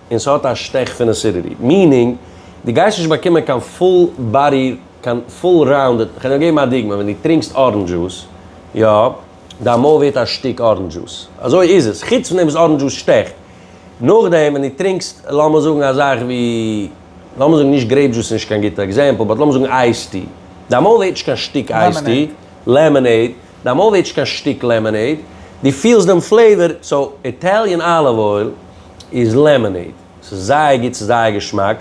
און ס'האט א שטעך פון עסידיטי, מיענינג דו גייסט נישט באקומען קיין פול באדי, קיין פול ראונדעד, כ'על נאר געבן א דוגמא, ווען דו טרינקסט ארענדזש דזשוס, יא, דיין מויל ווערט א שטיק ארענדזש דזשוס, אזוי איז עס, חוץ פון דעם וואס ארענדזש דזשוס שטעכט, נאכדעם ווען דו טרינקסט לאמיר זאגן א זאך ווי, לאמיר זאגן נישט גרעיפ דזשוס איז נישט קיין גוטע עקזעמפל, באט לאמיר זאגן אייס טי, דיין מויל ווערט נישט קיין שטיק אייס טי, לעמענעיד, דיין מויל ווערט נישט קיין שטיק לעמענעיד, דו פילסט דעם פלעיווער, סאו איטעליען אליוו אויל. איז לעמאנעיד, ס'איז זייער גוט, ס'איז זייער געשמאק,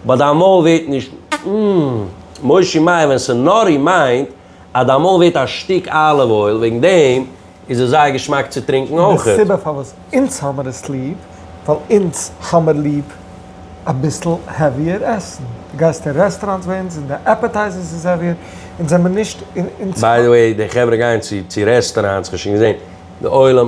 באט דיין מויל ווערט נישט מ מ מושי מייער ווען ס'איז נארי מיינט אז דיין מויל ווערט א שטיק אליוו אויל, וועגן דעם איז עס זייער געשמאק צו טרינקן אויכעט. די סיבה פארוואס אונז האמער עס ליב, ווייל אונז האמער ליב אביסל העוויער עסן, די גייסט אין רעסטעראנטס ביי אונז און די עפעטייזערס איז העוויער, אונז זעמער נישט אונז. ביי די וועי די חברה גייען צו רעסטעראנטס כ'האב שוין געזען די עולם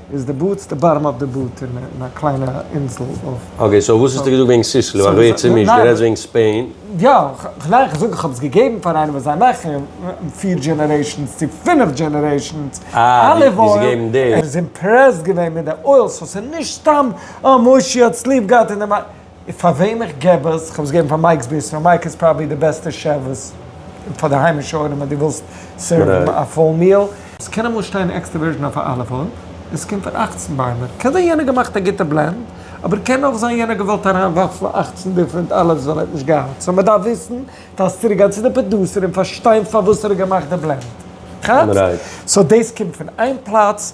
איז די בארטס די באטאם אוו די באט אין א קליינע אינזל אויף. אקעי סאו וואס האסטו געזאגט וועגן סיסלו? א ווערט צומישט, דו רעדסט וועגן ספעין? יא, ניין כ'זאג איך האב עס געגעבן פאר איינעם וואס זיי מאכן פיר דזשענערעישאנס צו פינף דזשענערעישאנס אליוו אויל, ער איז אימפרעסט געווען מיט די אויל, סאו ס'איז נישט סתם אה מושי האט עס ליב געהאט און די. פאר וועם איך געב עס, כ'האב עס געגעבן פאר מייק'ס ביזנעס, מייק איז פראבעלי די בעסטע שעף וואס, פאר די היימישע עולם אז דו ווילסט סערוון א פול מיעל. עס קען אמאל שטיין עקסטער ווירדזשין אויף א אליוו אויל, עס קומט פון אַכצן ביימער, קען זיין יענער האט געמאכט א גוטע בלענד, אבער קען אויך זיין יענער האט געוואלט אריין ווארפן אַכצן דיפרענט אליווס ווייל ער האט נישט געהאט, סאו מען דארף וויסן, דארפסט צוריק גיין צו די פראדוסער און פארשטיין פארוואס ער האט געמאכט די בלענד, כאפסט? סאו דאס קומט פון איין פלאץ.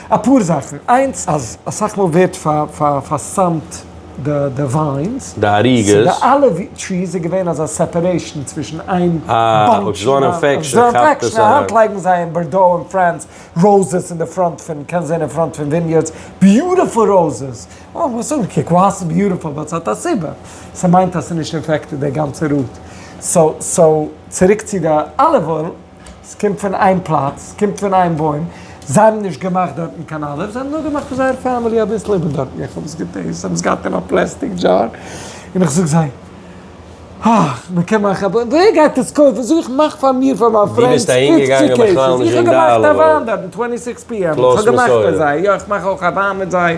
אפאר זאכן, איינס אז אסאך מאל ווערט פארסאמט די וויינס, די אריגעס, די אליוו טריס איז געווען אזא סעפערעישן צווישן איין באנטש און א אינפעקשן, א האנט לייגן זיי אין בארדאו און פרענס ראוזעס אין די פראנט פון, קענסט זען אין פראנט פון וויניערדס ביוטיפול ראוזעס, אוי וואס זאגן, קוק ווייס איז ביוטיפול ווייל ס'האט א סיבה, ס'מיינט אז ס'איז נישט אינפעקטעד די גאנצע רוט, סאו צוריק צו די אליוו אויל. ס'קומט פון איין פלאץ, ס'קומט פון איין בוים, זיי האבן נישט געמאכט דארטן קיין אלף, זיי האבן נאר געמאכט פאר זייער פעמילי אביסל איבער דארטן, איך האב עס געטעיסט, זיי האבן עס געהאט אין א פלעסטיק דזשאר, און איך זאג זיי, אה, מ'קען מאכן א בוים, ווער גייט עס קויפן, זאג איך, מאך פאר מיר, פאר מיין פרענדס, פופציג קעיסעס, איך האב געמאכט א וויין דארטן, טווענטי סיקס פי עם, איך האב געמאכט פאר זיי, יא, איך מאך אויך א וויין מיט זיי.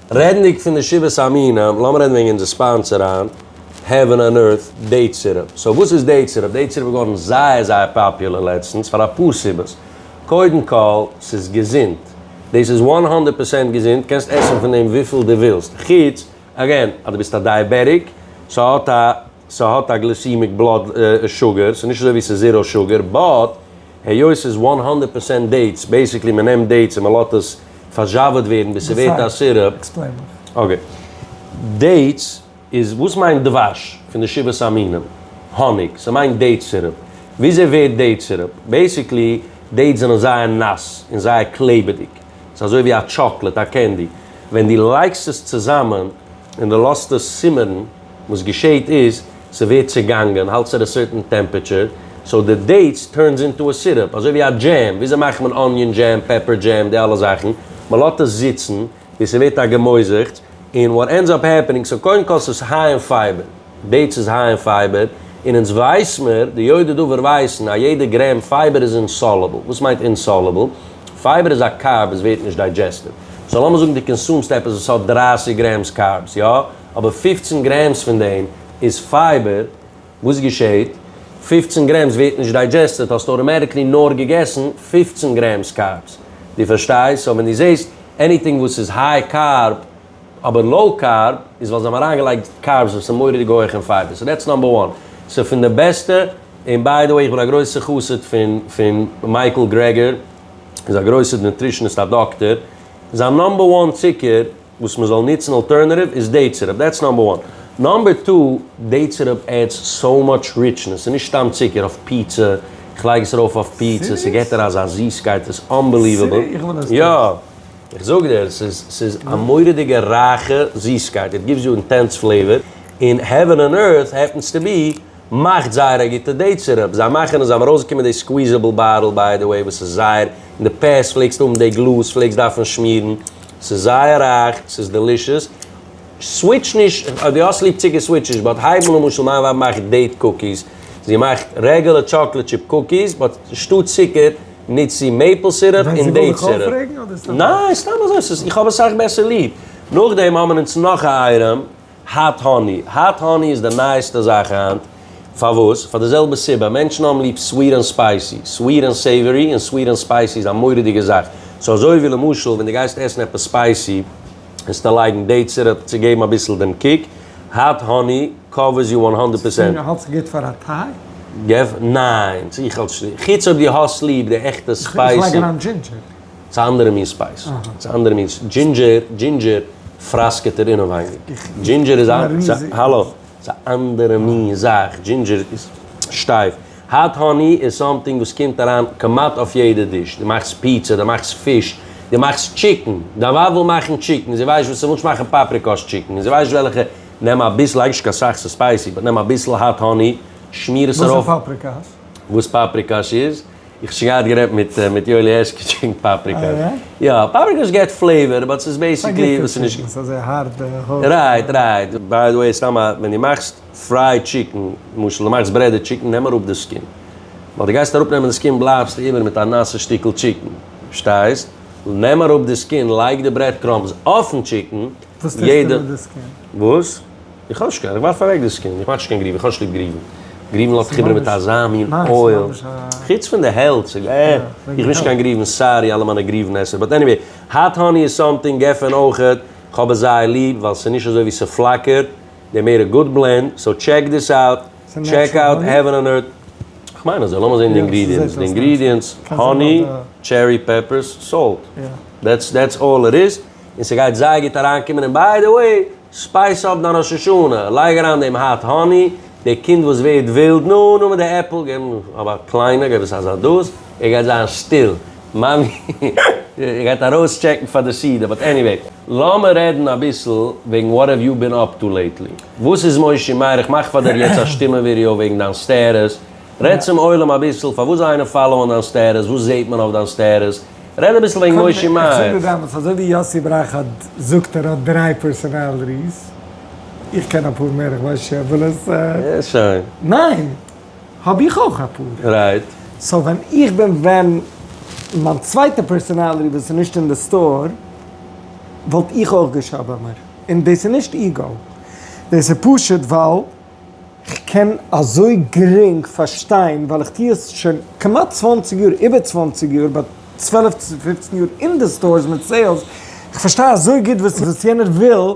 רעדנדיג פון די שבעת המינים, לאמיר רעדן וועגן אונזער ספאנסער היינט, העווען ענד ערט, דעיט סירופ. סאו וואס איז דעיט סירופ? דעיט סירופ איז געווארן זייער זייער פאפולער לעצטנס פאר אפאר סיבות. קודם כל, ס'איז געזונט. דאס איז וואן הונדערט פראצענט געזונט, קענסט עסן פון דעם וויפיל דו ווילסט. חוץ, אגעין, אז דו ביסט א דייעבעטיק, ס'האט א. ס'האט א גליסימיק בלאד שוגער, ס'איז נישט אזוי ווי ס'איז זיראו שוגער, באט היות ס'איז וואן האנדערט פערסענט דעיטס, בעיסיקלי מ'נעמט דעיטס און מ'לאט עס פארזשאוועט ווערן ביז ס'ווערט א סירופ, אקעי, דעיטס איז, וואס מיינט דבש פון די שבעת המינים? האניג, ס'מיינט דעיט סירופ, וויאזוי ווערט דעיט סירופ? בעיסיקלי דעיטס זענען זייער נאס און זייער קלעבעדיג, ס'איז אזוי ווי א טשאקלעט, א קענדי, ווען דו לייגסט עס צוזאמען און דו לאזט עס צימערן, וואס געשעהט איז ס'ווערט צעגאנגען האלטס עט א סערטען טעמפעטשער סאו די דעיטס טורנס אינטו א סירופ אזוי ווי א דזשעם וויאזוי מאכט מען אניאן דזשעם פעפער דזשעם די אלע זאכן מ'לאט עס זיצן ביז ס'ווערט א געמויזעכטס און וואט ענדס אפ העפענינג סאו קודם כל ס'איז היי אין פייבער דעיטס איז היי אין פייבער און אונז ווייס מיר די יודעי דבר ווייסן אז יעדע גרעם פייבער איז אינסאלעבל וואס מיינט אינסאלעבל? פייבער איז א קארב וואס ווערט נישט דיידזשעסטעד סאו לאמיר זאגן די קאנסומסט עפעס וואס האט דרײַסיק גרעמס קארבס יא? אבער פֿופֿצן גרעמס פון דעם איז פייבער, וואס געשעהט? פֿופֿצן גרעמס ווערט נישט דיידזשעסטעד, האסט אוטאמעטיקלי נאר געגעסן פֿופֿצן גרעמס קארבס, דו פארשטייסט? סאו ווען דו זעהסט עניטינג וואס איז היי קארב אבער לאו קארב, איז ווייל זיי האבן אריינגעלייגט קארבס וואס איז מורא'דיג הויך אין פייבער, סאו דעטס נאמבער וואן, ס'איז פון די בעסטע, און ביי די וועי איך בין א גרויסע חסיד פון פון מייקל גרעגער, איז א גרויסע נוטרישניסט א דאקטער, זיין נאמבער וואן צוקער וואס מען זאל ניצן אלטערנעטיוו איז דעי צירופ דעטס נאמבער וואן, נאמבער טו דעי צירופ עדס סאו מאטש ריטשנעס ס'איז נישט סתם צוקער אויף פיצא, איך לייג עס ארויף אויף פיצא ס'געט דיר אזא זיסקייט איז אנבעליוועבל, יא איך זאג דיר ס'איז ס'איז א מורא'דיגע רייכע זיסקייט איט גיווס יו אינטענס פלעיווער און העווען אן ערט העפענס טו בי. מאכט זייער א גוטע דעיט סירופ, זיי מאכן עס, זיי האבן ארויסגעקומען די סקוויזעבל באטל ביי די וועי וואס איז זייער אין די פעסט פלעגסט האבן די גלאז פלעגסט דארפן שמירן, ס'איז זייער רייך ס'איז דעלישעס, סוויטש נישט אויב די האסט ליב צוקער סוויטש נישט באט הייב אן למשל מיין ווייב מאכט דעיט קוקיס זי מאכט רעגולער טשאקלעט טשיפ קוקיס באט אנשטאט צוקער ניצט זי מעיפל סירופ און דעיט סירופ. ניין סתם אזוי איך האב עס סאך בעסער ליב. נאכדעם האבן אונז נאך א אייטעם. האט האני, האט האני איז די נייעסטע זאך היינט, פארוואס? פאר די זעלבע סיבה, מענטשן האבן ליב סוויט און ספייסי, סוויט און סעיווערי, און סוויט און ספייסי איז א מורא'דיגע זאך, סאו אזוי ווי למשל ווען די גייסט עסן עפעס ספייסי, וועסטו לייגן דעיט סיראפ צו געבן אביסל דעם קיק, האט האני קאווערס יו וואן הונדערט פערסענט. ספירא האלטסט גוט פאר א טיי? געוו, ניין, איך האלט נישט, חוץ אויב דו האסט ליב די עכטע ספייסי. איך לייג אריין דזשינדזשער. ס'איז א אנדערע מין ספייס. ס'איז א אנדערע מין. דזשינדזשער, דזשינדזשער פראסקעט ער אינעווייניג. דזשינדזשער איז א, ס'איז א, האלא, ס'איז א אנדערע מין זאך. דזשינדזשער איז שטייף. האט האני איז סאמטינג וואס קומט אריין כמעט אויף יעדע דיש. דו מאכסט פיצא, דו מאכסט פיש, דו מאכסט טשיקן. דיין ווייב וויל מאכן טשיקן, זי ווייסט וואס, זי וויל נישט מאכן פאפריקאס טשיקן, זי ווייסט נישט וועלכע, נעם אביסל, לייג נישט קיין סאך, ס'איז ספייסי, באט נעם אביסל האט האני, שמיר עס ארויף. וואס איז פאפריקאס? וואס פאפריקאס איז? איך האב שוין געהאט גערעדט מיט מיט יואלי הערשקוטש וועגן פאפריקע. אה יא? יא, פאפריקעס געט פלעיווער באט ס'איז בעסיקלי וואס ס'איז נישט. אזוי הארב הארב. רייט רייט. ביי די וועי סתם א, ווען די מאכסט פרייד טשיקן, למשל די מאכסט ברעדעד טשיקן נעם אראפ די סקין, ווייל די גייסט אראפ נעמען די סקין בלייבסטו איבער מיט א נאסע שטיקל טשיקן, פארשטייסט? נעם אראפ די סקין לייג די ברעד קראמבס אויפן טשיקן, יעדע. וואס טוסטו מיט די סקין? וואס? איך האב נישט קיין, איך ווארף אוועק דאס קינד, איך מאך נישט קיין גריוון, איך האב נישט ליב גריוון, גריוון לאזט חיבערן מיט אזא מין אויל, חוץ פון די העלטס, אה, איך בין נישט קיין גריוון, סארי אלע מיינע גריוון עסער, באט עניוועי, האט האני איז סאמטינג, גפן אויכעט, איך האב עס זייער ליב, ווייל ס'איז נישט אזוי ווי ס'פלאקערט, די מער א גוד בלענד, סאו טשעק דיס אוט, טשעק אוט העווען אן ערט, איך מיין אזוי, לאמיר זעהן די אינגרידיענטס, די אינגרידיענטס, האני, טשערי פעפערס, סאלט, דעטס דעטס אלל איט איז, און ס'גייט זייער גוט אריינקומען, און ביי די וועי, ספייס אפ דיין ראש השנה, לייג אריין דעם האט האני, דער קינד וואס ווערט ווילד, נו נו מיט די עפל, געב אים אויף א קליינע, געב עס א זאדאס, ער גייט זיין שטיל, מאמי גייט ארויס טשעקן פאר די סידור, באט עניוועי, לאמער רעדן אביסל וועגן וואט האוו יו בין אפ טו לעיטלי, וואס איז מושי מאיר, איך מאך פאר דיר יעצט א שטימע ווידעא וועגן דיין סטעטוס, רעד צום עולם אביסל פארוואס זיי אינעם פאלאוען דיין סטעטוס, וואס זעט מען אויף דיין סטעטוס, רעד אביסל וועגן מושי מייער. איך זאג דיר באמת, אזוי ווי יאסי בראך האט זאגט ער האט דריי פערסאנאלטיס, איך קען אפאר מער איך ווייס נישט אויב איך וועל עס. ניין! האב איך אויך אפאר. רייט. סאו ווען איך בין ווען מיין צווייטע פערסאנאלטי וואס איז נישט אין די סטאר וואלט איך אויך געשאבעמער, און דאס איז נישט איגאו דאס איז פשוט ווייל. כ'קען אזוי גרינג פארשטיין ווייל איך טוה עס שוין כמעט צוואנציג יאר, איבער צוואנציג יאר, ביי צוועלף צו פופצן יאר אין די סטארס מיט סעילס, כ'פארשטיי אזוי גוט וואס יענער וויל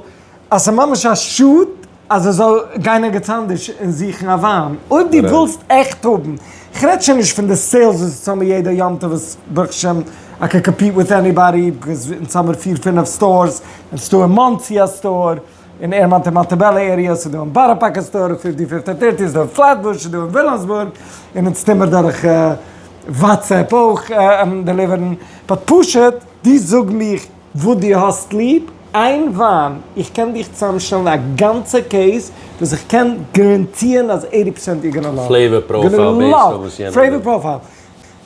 אז ס'ממש א שאד אז ער זאל גיין ערגעץ אנדערש און זוכן א וויין אויב דו ווילסט עכט האבן, כ'רעד שוין נישט פון די סעילס וואס איז האמיר יעדע יום טוב וואס ברוך השם איי קען קאמפיט וויט עניבאדי, ביז אונז האמיר פיר פינעף סטארס, נישטא אין מאנסי א סטאר. אין עירמאנט און מאנטיבעלא עריעס איז דא, אין בארא פארק איז סטאר פיפטי און פיפטי טערטי איז דא, אין פלעטבוש איז דא, אין וויליאמסבורג איז מען צוטימער דורך וואטסעפפ אויך דעליווערן, באט פשוט דו זאג מיך וואס דו האסט ליב, איין וויין, איך קען דיך צוזאמשטעלן א גאנצע קעיס וואס איך קען גאראנטירן אז עיטי פערסענט יור גאנא לאוו, פלעיוואר פראפייל בעיסד אויף וואס יענער וויל.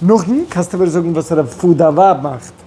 נאכדעם קענסטו מיר זאגן וואס רעב פאר דיין ווייב מאכט.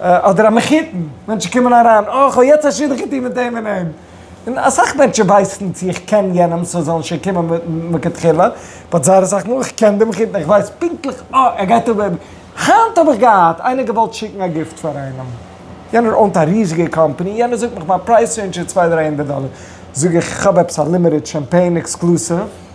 אדער א מחותן, מענטשן קומען אריין, אה כ'האב יעצט א שידוך געטון מיט דעם און דעם, און אסאך מענטשן ווייסן צו איך קען יענעם סאו זאלן שוין קומען מכתחילה, באט זייער אסאך מאל איך קען די מחותן איך ווייס פונקטליך אה ער גייט אבער, היינט האב איך געהאט איינער געוואלט שיקן א גיפט פאר איינעם, יענער אונט א ריזיגע קאמפאני, יענער זאגט מיך מיין פרייז רעינדזש איז צוויי דריי הונדערט דאלער, זאג איך איך האב עפעס א לימיטעד שאמפעין עקסקלוסיוו,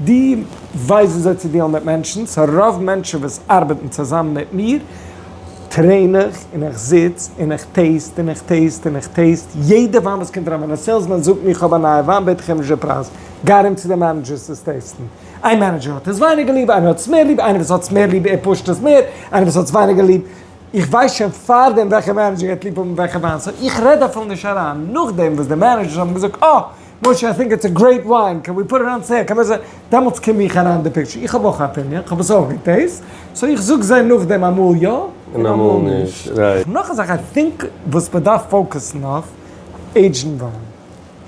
דו ווייסט וויאזוי צו דיעלן מיט מענטשן, סא רוב מענטשן וואס ארבעטן צוזאם מיט מיר טרעין איך און איך זיץ און איך טעסט און איך טעסט און איך טעסט יעדע וויין וואס קומט אריין, ווען א סעילסמאן זאגט מיר איך האב א נייע וויין בעט איך אים נישט די פרייז, גיי ארום צו די מענעדזשערס עס טעסטן, איין מענעדזשער האט עס ווייניגער ליב איינער האט עס מער ליב, איינער וואס האט עס מער ליב ער פושט עס מער, איינער וואס האט עס ווייניגער ליב, איך ווייס שוין פארדעם וועלכע מענעדזשער גייט ליב האבן וועלכע וויין, סא איך רעד אפילו נישט אריין, נאכדעם וואס די מענעדזשערס האבן געזאגט אה. משה, איי טינק איטס א גרעיפ וויין, קען ווי פוט איט אן סעיל, קען ווען זיין, דעמאלטס קום איך אריין אין די פיקטשער, איך האב אויך א אפיניען, כ'האב עס אויך געטעיסט, סאו איך זאג זיי נאכדעם אמאל יא און אמאל נישט. נאך א זאך איי טינק וואס מען דארף פאוקעסן אויף, עידזשן וויין.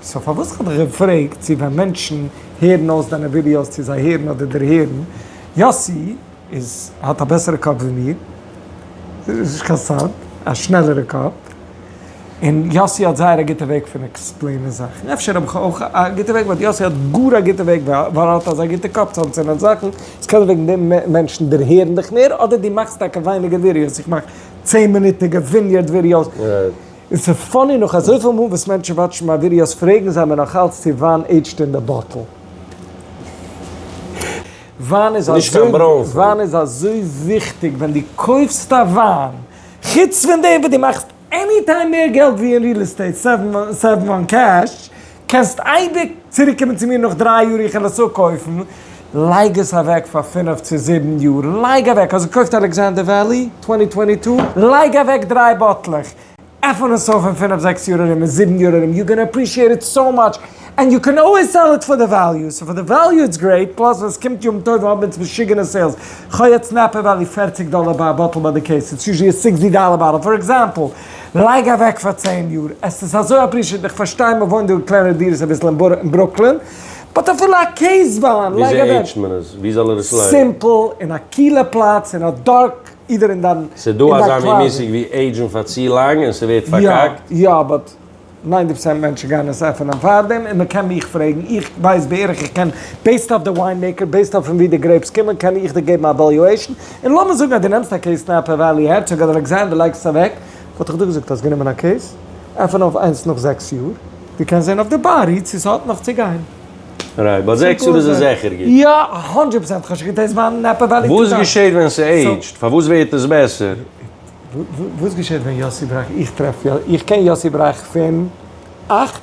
סאו פארוואס כ'האב דיך געפרעגט צו ווען מענטשן הערן אויס דיינע ווידיאוס צו זיי הערן אדער דערהערן, יאסי, איז האט א בעסערע קאפ ווי מיר, איז נישט קיין סוד, א שנעלערע קאפ, און יאסי האט זייער א גוטע וועג פון עקספלעינען זאכן, אפשר האב איך אויך א גוטע וועג, באט יאסי האט גאר א גוטע וועג ווייל ער האט אזא גוטע קאפ צו אנצינדן זאכן, עס קענען וועגן דעם מענטשן דערהערן דיך מער, אדער דו מאכסט טאקע ווייניגער ווידיאוס, איך מאך צען מינוטיגע וויניערד ווידיאוס, און ס'איז פאני נאך אזויפיל מאל וואס מענטשן וואטשן מיין ווידיאוס פרעגן זיי מיר נאך אלץ צו וויין עידזשט אין די באטל. וויין איז נישט קיין ברוינפן. וויין איז אזוי וויכטיג ווען דו קויפסט א וויין, חוץ פון דעם וואס דו מאכסט עני טיים מער געלט ווי אין ריעל עסטעיט, סעוו וואן קעש, קענסט אייביג צוריק קומען צו מיר נאך דריי יאר איך העל עס אפ קויפן, לייג עס אוועק פאר פֿינף צו זיבן יאר, לייג אוועק, האסט געקויפט אלעקסאנדער וועלי צוואַנצן צוואַנצן צוויי, לייג אוועק דריי באטלעך, עפען עס אויף אין פינף זעקס יאר ארום אין זיבן יאר ארום יו גאנא עפרישיעט איט סאו מאטש ענד יו קען אלוועיס סעל איט פאר די וועליו סאו פאר די וועליו איטס גרעיט פלאס ווען סקומט יום טוב האבן אונז משוגענע סעילס כ'האב יעצט נעפע וועלי פערציג דאלער ביי א באטל ביי די קעיס איטס יוזשעלי א סיקסטי דאלער באטל פאר עקזעמפל לייג אוועק פאר צען יאר עס איז אזוי עפרישיעט און כ'פארשטיי מ'וואוינט דא אין קלענערע דירות אביסל אין ברוקלין באט אפילו א קעיס וויין לייג אוועק סימפל אין א קילע פלאץ אין א דארק אידער אין דיין קלאזעט. ס'איז דא אזא מין מושג ווי עידזשן פאר צו לאנג און ס'ווערט פארקאקט. יא יא באט ניינטי פארצענט מענטשן גייען עס עפענען פארדעם און מ'קען מיך פרעגן איך ווייס בערך איך קען בעיסד אויף די וויין מעיקער בעיסד אויף פון ווי די גרעיפס קומען קען איך דיר געבן א עוועליועישן און לאמיר זאגן אז דו נעמסט א קעיס נאפע וואלי הערצאג אדער אלעקסאנדער לייגסט עס אוועק וואלט איך דא געזאגט האסט גענומען א קעיס עפען אויף איינס נאך זעקס יאר דו קענסט זען אויף די בארי צו ס'האט נאך צו גיין. רייט, ביי זעקס יאר איז עס זיכער גוט. יא, א הונדרעט פראצענט, כ'האב שוין געטעסט מיין נעפע וועליו טו טיימס. וואס געשעהט ווען ס'עידזשט? פארוואס ווערט עס בעסער? וואס געשעהט ווען יאסי בראך? איך טרעף יא, איך קען יאסי בראך פון אַכט,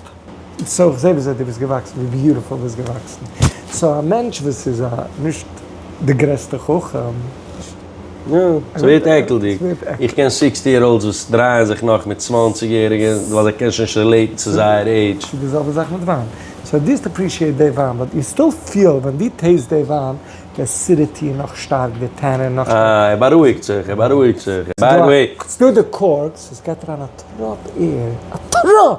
סאו איך זעה וויאזוי דו ביסט געוואקסן, ווי ביוטיפול ביסט געוואקסן, סאו א מענטש וואס איז א נישט די גרעסטע חכם, יא, ס'ווערט עקלדיג. איך קען סיקסטי יער אולדס וואס דרייען זיך נאך מיט צוואנציג יעריגע ווייל זיי קענען שוין נישט רילעיטן צו זייער עידזש. ס'איז די זעלבע זאך מיט וויין. סאו דו האסט עפרישיעט די וויין באט יו סטיל פיל ווען דו טעיסט די וויין די עסידיטי איז נאך שטארק, די טענין נאך שטארק. אה, ער בארואיגט זיך, ער בארואיגט זיך. ביי די וועי. ס'דא די קארקס וואס גייט אריין א טראפ עיר, א טראפ!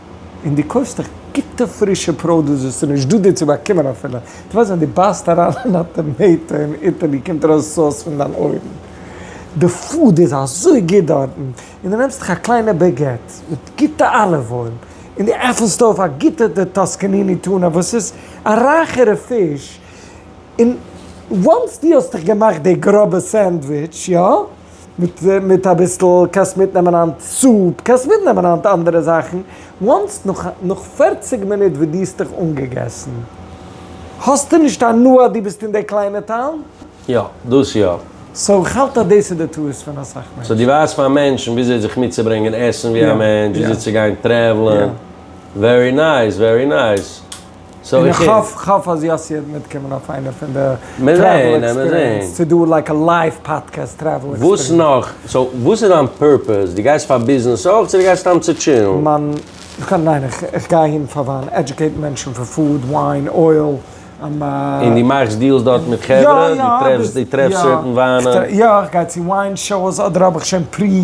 און דו קויפסט דאך גוטע פרישע פראדוס וואס איז נישט דא דיר צו באקומען אפילו, דו ווייסט ווען דו בייסט אריין אין א טאמעיטא אין איטעלי קומט ארויס סאוס פון דיין אויערן, די פוד איז אזוי גוט דארטן, און דו נעמסט דיך א קליינע בעגעט מיט גוטע אליוו אויל און דו עפענסט אויף א גוטע די טאסקאניני טונא וואס איז א רייכערע פיש, און וואנס דו האסט דיך געמאכט די גראבע סענדוויטש, יא? מיט אביסל קענסט מיטנעמען היינט זופ, קענסט מיטנעמען היינט אנדערע זאכן, וואנס נאך פֿערציק מינוט וואס דו האסט דיך אנגעגעסן האסטו נישט הנאה אז דו ביסט אין די קליינע טאון? יא, דאס יא. סאו איך האלט אז דאס איז די טעות פון אסאך מענטשן. סאו דו ווייזט פאר מענטשן וויאזוי זיך מיטצוברענגען עסן ווי א מענטש, וויאזוי צו גיין טרעוולען. ווערי נייס, ווערי נייס. און איך האף, כ'האף אז יאסי וועט מיטקומען אויף איינע פון די טרעוול עקספיריענס, צו דא לייק א לייוו פאדקעסט טרעוול עקספיריענס. וואס נאך? סאו וואס איז דיין פורפעס? דו גייסט פאר ביזנעס אויך צו דו גייסט סתם צו טשילן? מיין, כ'גיי, ניין, איך גיי אהין פאר וויין, עדיוקעיטן מענטשן פון פוד, וויין, אויל, און. און דו מאכסט דיעלס דארט מיט חברה? דו טרעפסט, דו טרעפסט סערטען וויינען? יא, איך גיי צו וויין שאוס, אדער האב איך שוין פרי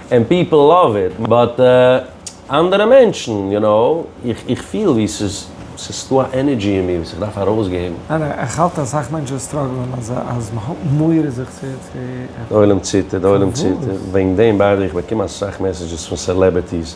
ענד פיפל לאוו איט, באט אנדערע מענטשן, יו נאו, איך פיל ווי ס'איז ס'איז דא א ענערדזשי אין מיר וואס איך דארף ארויסגעבן. ניין איך האלט אז אסאך מענטשן סטראגלען אז אז מען האט מורא זיך צו עפענען. די עולם ציטערט, די עולם ציטערט, וועגן דעם ביידע איך באקום אסאך מעסעדזשעס פון סעלעבערטיס.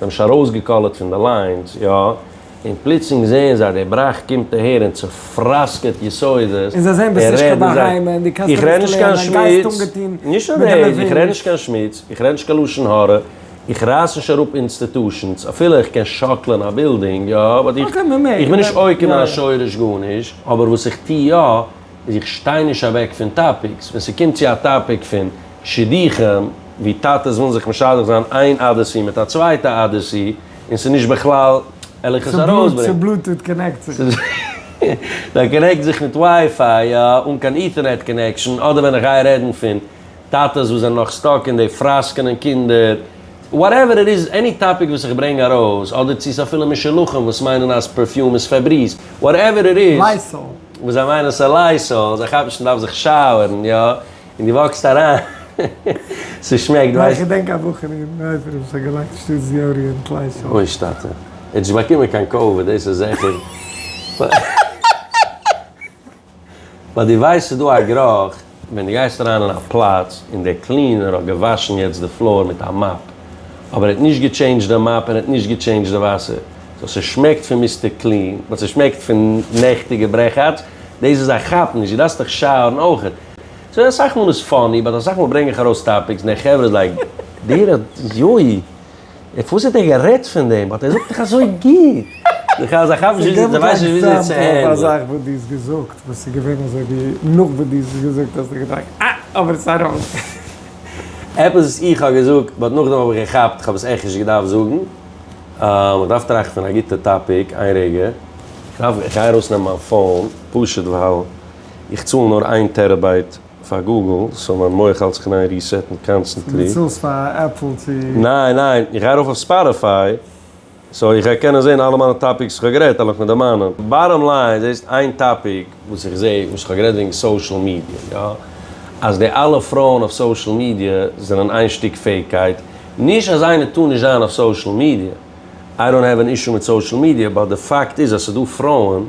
זיי האבן שוין ארויסגעקאלערט פון די ליינס, יא, און פלוצלינג זעען זיי די בראך קומט אהער און צופראסקעט יסודות, און זיי זעען ביסט נישט קיין בהמה און דו קענסט נישט לערנען, א גייסט אנגעטון מיט די נערווען. איך רעד נישט קיין שמוץ, איך רעד נישט קיין לשון הרע, איך רייס נישט אראפ אינסטיטושענס, אפילו איך קען שאקלען א בילדינג, יא, באט איך איך בין נישט עוקר מהשורש גארנישט, אבער וואס איך טו יא, איז איך שטיי נישט אוועק פון טאפיקס, ווען ס'קומט צו א טאפיק פון. שידוכים ווי טאטעס ווילן זיך משדך זיין איין אדעסי מיט א צווייטע אדעסי און ס'איז נישט בכלל עלעך עס ארויסברענגען. צו בלוטוט קאנעקט זיך נישט. זיי קאנעקטן זיך מיט ווייפיי יא, אן קיין איטערנעט קאנעקשאן, אדער ווען איך גיי רעדן פון טאטעס וואס זענען נאך סטאק אין די פראסקענען קינדער, וואטעווער איט איז, עני טאפיק וואס איך ברענג ארויס, אדער צו ס'אפילו משולחים וואס מיינען אז פערפיום איז פעבריז, וואטעווער איט איז, וואס זיי מיינען ס'איז לייסאל, זיי כאפן נישט מ'דארף זיך שאוערן יא, און דו וואקסט אריין, ס'שמעקט ווייסט. איך געדענק א בחור אין נייטרא וואס האט געלייגט שטאט זיארי אין קליישאל. אוי שטאטע. ער האט נישט באקומען קיין קאוויד דאס איז זיכער. ווייל דו ווייסט ס'איז דא א גרוך ווען דו גייסט אריין אין א פלאץ און דער קלינער האט געוואשן יעצט די פלאר מיט א מאפ אבער ער האט נישט געטשעינדזשט די מאפ און ער האט נישט געטשעינדזשט די וואסער סאו ס'שמעקט פון מיסטער קלין באט ס'שמעקט פון נעכטיגע ברעכאטץ דאס איז א כאפ נישט דו דארפסט דיך שאוערן אויכעט. סאו יא אסאך מאל איז פאני באט אסאך מאל ברענג איך ארויס טאפיקס און דער חברה איז לייק דער יוי אויף וואס האט ער גערעדט פון דעם באט ער זאגט דאך אזוי גוט די חז א כאפן נישט זיי ווייסן נישט וויאזוי צו הענדלען. געב אן עקזעמפל פון א זאך וואס דו האסט געזאגט וואס איז געווען אזוי ווי נאך וואס דו האסט עס געזאגט האסטו געדארפט אה אבער עס ארויס. עפעס וואס איך האב געזאגט באט נאכדעם האב איך געכאפט כ'האב עס עכט נישט געדארפט זאגן. אה כ'דארף טראכטן פון א גוטע טאפיק איין רגע. כ'דארף, כ'גיי ארויסנעמען מיין פאון פשוט ווייל. איך צאל נאר איין טערעבייט פאר גוגל, סאו מיין מח האלט זיך אין איין ריסעטן קאנסטענטלי. סאו דו צאלסט פאר עפל צו. ניין ניין, איך גיי ארויף אויף ספאטיפיי, סאו איך גיי קענען זעהן אלע מיינע טאפיקס וואס איך האב גערעדט, אלל איך מיט די מיינע. באטאם ליין, זעהסט איין טאפיק וואס איך זעה, וואס איך האב גערעדט וועגן סאושעל מידיע, יא? אז די אלע פרויען אויף סאושעל מידיע זענען איין שטיק פעיקייט, נישט אז איינער טאר נישט זיין אויף סאושעל מידיע, איי דאנט העוו ען אישו מיט סאושעל מידיע, באט די פאקט איז אז ס'דא פרויען,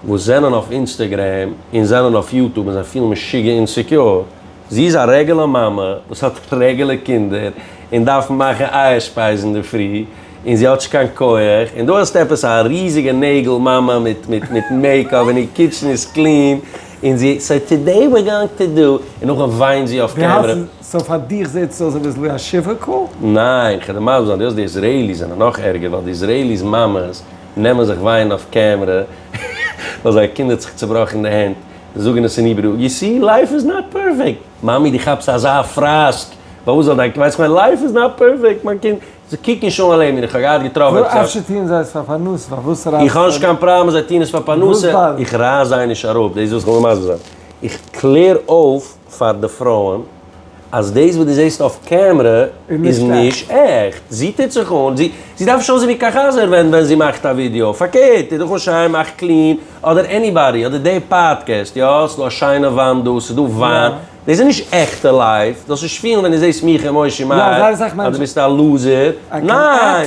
וואס זענען אויף אינסטעגרעם און זענען אויף יוטוב און זיי פילן משוגע און סעקיור, זי איז א רעגעלע מאמע וואס האט רעגעלע קינדער און דארף מאכן אייער שפייז אינדערפרי און זי האט נישט קיין כח, און דא האסטו עפעס א ריזיגע נעגל מאמע מיט מיט מעיק אפ און איר קיטשן איז קלין און זי סאו טודעי ווער גאונג טו דא און נאכדעם וויינט זי אויף קעמרע. סאו פאר דיך זעט עס אויס אביסל ווי א שיווק קאל? ניין, כדי מסביר זיין, די האסט די איזרעיליס זענען נאך ערגער ווייל די איזרעיליס מאמעס. נעמען זיך ווייען אויף קעמרע ווייל זייער קינד האט זיך צובראכן אין די הענט, זאגן עס אין היברו, יו סי, לייף איז נאט פערפעקט! מאמי די כאפסט אזא פראסק, פארוואס זאל דיין קינד, ווייסט כ'מיין, לייף איז נאט פערפעקט, מיין קינד, זיי קוקן שוין אל עינינו, איך האב געהאט געטראפן עפעס א. אפשר טוען זיי עס פאר פרנסה, פארוואס רייסט. איך האב נישט קיין פראבלעם אז זיי טוען עס פאר פרנסה, איך רייס זיי נישט אראפ, דאס איז וואס איך וויל מסביר זיין, איך קלער אויף. פאר די פרויען אז דאס וואס דו זעסט אויף קעמרע איז נישט עכט, זי טוט זיך אן, זי זי דארף נישט אויסזען ווי קאכהאזער ווען ווען זי מאכט א ווידיאו, פארקערט טו דיך אן שיין, מאך קלין, אדער עניבאדי, אדער די פאדקעסט, יא ס'איז דא א שיינע וואנט דא, ס'איז דא וויין, דאס איז נישט עכטע לייף, זאלסט נישט פילן ווען דו זעסט מיך און מושי מייער אז דו ביסט א לוזער, ניין!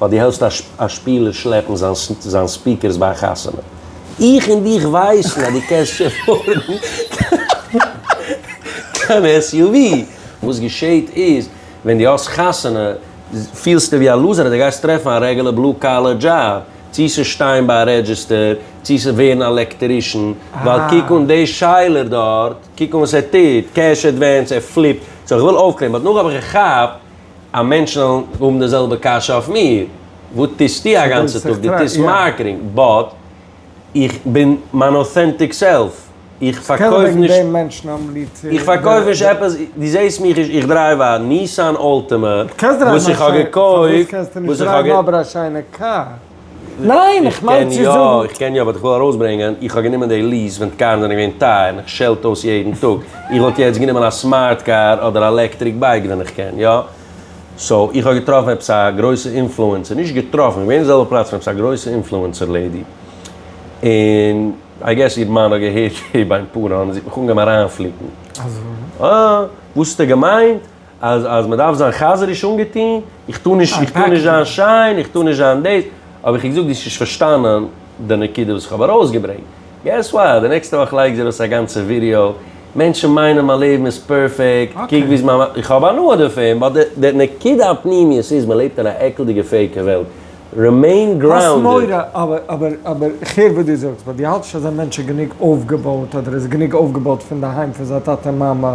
ווייל דו העלסט א שפילער שלעפן זיין ספיקערס ביי א חתונה. איך און דיך ווייסן אז דו קענסט שוין פארן קיין SUV. וואס געשעהט איז, ווען דו האסט חתונה פילסטו ווי א לוזער אז דו גייסט טרעפן א רעגולער בלו קאלער דזשאב, צו ס'איז שטיין ביי א רעדזשיסטער, צו ס'איז ווערן א עלעקטערישן, ווייל קוק אן די שיילער דארט, קוק אן וואס ער טוט, קעש עדווענס, ער פליפט, סאו כ'וויל אויפקלערן, באט נאך האב איך געכאפט. א מענטש זאל האבן די זעלבע קשיא אויף מיר, וואס טוסטו א גאנצע טאג? דו טוסט מארקעטינג, באט איך בין מיין אוטענטיק סעלף, איך פארקויף נישט, איך פארקויף נישט עפעס, דו זעסט מיך נישט, איך דרייוו א ניסאן אלטימא וואס איך האב געקויפט, וואס איך האב געקויפט. ניין, איך מיין צו זאגן. איך קען יא, איך קען יא, באט איך וויל ארויסברענגען, איך האב גענומען די ליעס ווען קארן זענען געווען טייער, און איך שעלט אויס יעדן טאג. איך וואלט יעצט גענומען א סמארט קאר אדער א עלעקטריק בייק ווען איך קען יא. סאו, איך האב געטראפן עפעס א גרויסע אינפלוענסער, נישט געטראפן, איך בין געווען אין די זעלבע פלאץ פון עפעס א גרויסע אינפלוענסער לעידי, און איי געס איר מאן האט געהערט ביים פארן און זי האט מיך אנגעהויבן אריינפליקן. אזוי? אה, וואס האסטו געמיינט? אז אז מ'דארף זיין חזר'יש אנגעטוהן, איך טוה נישט איך טוה נישט זיין שיין, איך טוה נישט זיין דאס, האב איך אים געזאגט דו האסט נישט פארשטאנען די נקודה וואס איך האב ארויסגעברענגט, געס וואט, די נעקסטע וואך לייג איך דיר ארויס א גאנצע ווידעא, מענטשן מיינען מיין לעבן איז פערפעקט, קוק ווי איז מיין, איך האב הנאה דערפון, באט די די נקודה הפנימיות איז מ'לעבט אין א עקלדיגע פעיקע וועלט, רימעין גראונדעד. האסט מורא, אבער אבער אבער איך הער וואס דו זאגסט, באט דו האלט נישט אז א מענטש איז גענוג אויפגעבויט, אדער איז גענוג אויפגעבויט פונדערהיים פון זיין טאטע מאמע,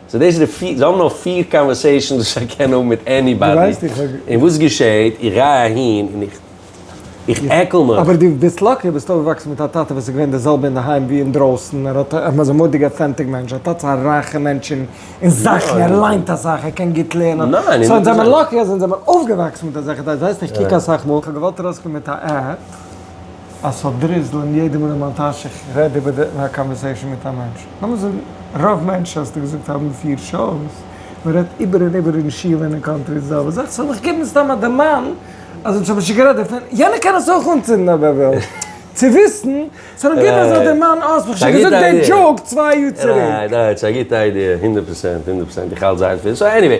סאו דאס איז די פיר, זיי האבן נאר פיר קאנווערסעישאנס וואס איך קען האבן מיט עניבאדי, און וואס געשעהט? איך גיי אהין און איך איך עקל מיך. אבער דו ביסט לאקי, דו ביסט אויפגעוואקסן מיט א טאטע וואס איז געווען די זעלבע אינדערהיים ווי אינדרויסן, ער האט, ער איז א מודיג אטענטיק מענטש, ער האט האט א רייכע מענטשן און זאכן, ער ליינט אסאך, ער קען גוט לערנען, סאו אונז זעמער לאקי אז אונז זעמער אויפגעוואקסן מיט אזעלכע, דו ווייסט נישט, קוק אסאך מאל, כ'האב געוואלט ארויסקומען מיט א. אז ס'האט דריזלען יעדע מאל אין מיין טאש איך רעד איבער די א קאנווערסעישאן מיט א מענטש, לאמיר זאגן רוב מענטשן האסטו געזאגט האבן פֿיר שאוס, מען רעדט איבער און איבער אין שול און אין קאנטרי איז די האלבע זאך, סאו לאמיך געבן סתם א דערמאן אז אונז האבן שוין גערעדט דערפון, יענער קען עס אויך אנצינדן אויב ער וויל צו וויסן, סאו לאמיך געבן אזא דערמאן אה האסט מיך שוין געזאגט דעי דזשאוק צוויי יאר צוריק. רייט, רייט, ס'איז א גוטע איידיע, הונדערט פראצענט, הונדערט פראצענט, איך האלט זייער פיל, סאו עניוועי.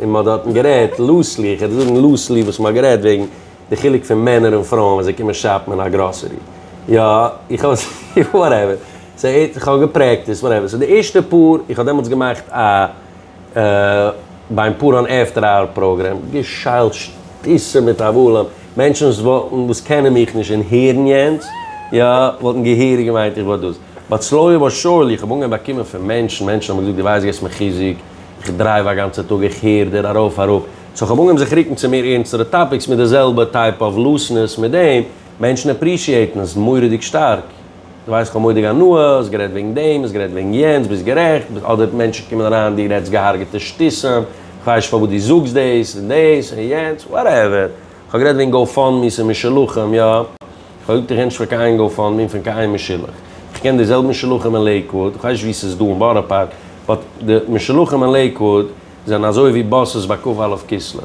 און מ'האט דארטן גערעדט לוסלי, איך העט זאגן לוסלי וואס מ'האט גערעדט וועגן די חילוק פון מענער און פרויען ווען זיי קומען שאפן אין א גראסערי. יא, איך האב עס, וואטעווער. סאו איך האב געפרעקטיסט, וואטעווער. סאו די ערשטע פאר, איך האב דעמאלטס געמאכט א ביים פאר אן עפטער אווער פראגרעם, געשיילט שטותים מיט הבלים, מענטשן וואס וואלטן, וואס קענען מיך נישט און הערן יענץ, יא, וואלטן געהעריג געמיינט איך וואלט דאס. בת צלויה בת שאול, איך האב אנגעהויבן באקומען פון מענטשן, מענטשן האבן געזאגט דו ווייסט געבסט מיר חיזוק, איך דרייוו א גאנצע טאג איך הער דיר ארויף אראפ, סאו איך האב אנגעהויבן זיך רוקן צו מער ערנסטערע טאפיקס מיט די זעלבע טייפ אוו לוסנעס מיט דעם, מענטשן עפרישיעטן עס מורא'דיג שטארק, דו ווייסט איך האב מורא'דיג הנאה, האסט גערעדט וועגן דעם, האסט גערעדט וועגן יענץ, ביסט גערעכט, אדער מענטשן קומען אריין דו רעדסט געהארגעטע שטותים, איך ווייס נישט פארוואס דו זאגסט דאס און דאס און יענץ, וואטעווער, איך האב גערעדט וועגן גאו פאנד מי'ס און משלוחים, יא. פרעגט די רענטש פאר קיין איין גאו-פאנד-מי פון קיין איין משולח. איך קען די זעלבע משולחים אין לעיקוואוד, איך ווייס נישט וואו ס'איז דא אין בארא פארק, באט די משולחים אין לעיקוואוד זענען אזוי ווי באסעס ביי כ א א' כסלו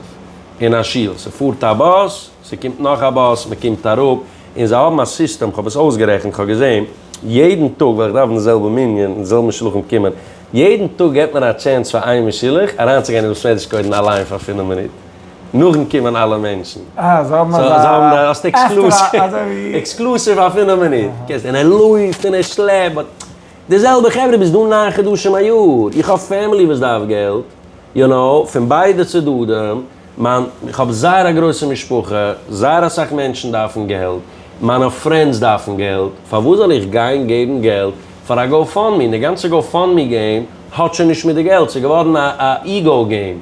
אין א שול, ס'פארט א באס, ס'קומט נאך א באס, מ'קומט אראפ, און זיי האבן א סיסטעם, כ'האב עס אויסגערעכנט, כ'האב געזען יעדן טאג ווען איך דארף אין די זעלבע מנין און די זעלבע משולחים קומען, יעדן טאג געט מען א טשענס פאר איין משולח אריינצוגיין אין דעם סוועדיש קוידן אליין פאר פינף מינוט. נאכן קומען אלע מענטשן. אה, זיי האבן אזא. זיי האבן א עקסטרע עקסקלוסיוו. אזויווי. עקסקלוסיוו אויף אין א מינוט. קענסט זען ער לויפט און ער שלעפט באט. די זעלבע חברה ביסט דא ניין חדשים א יאר. איך האב פעמילי וואס דארף געלט. יו נאו, פון ביידע צדדים. מיין, איך האב זייער א גרויסע משפחה. זייער אסאך מענטשן דארפן געלט. מיינע פרענדס דארפן געלט. פארוואס זאל איך גיין געבן געלט פאר א גאו פאנד מי? און די גאנצע גאו פאנד מי געים האט שוין נישט מיט די געלט. ס'איז געווארן א א איגאו געים.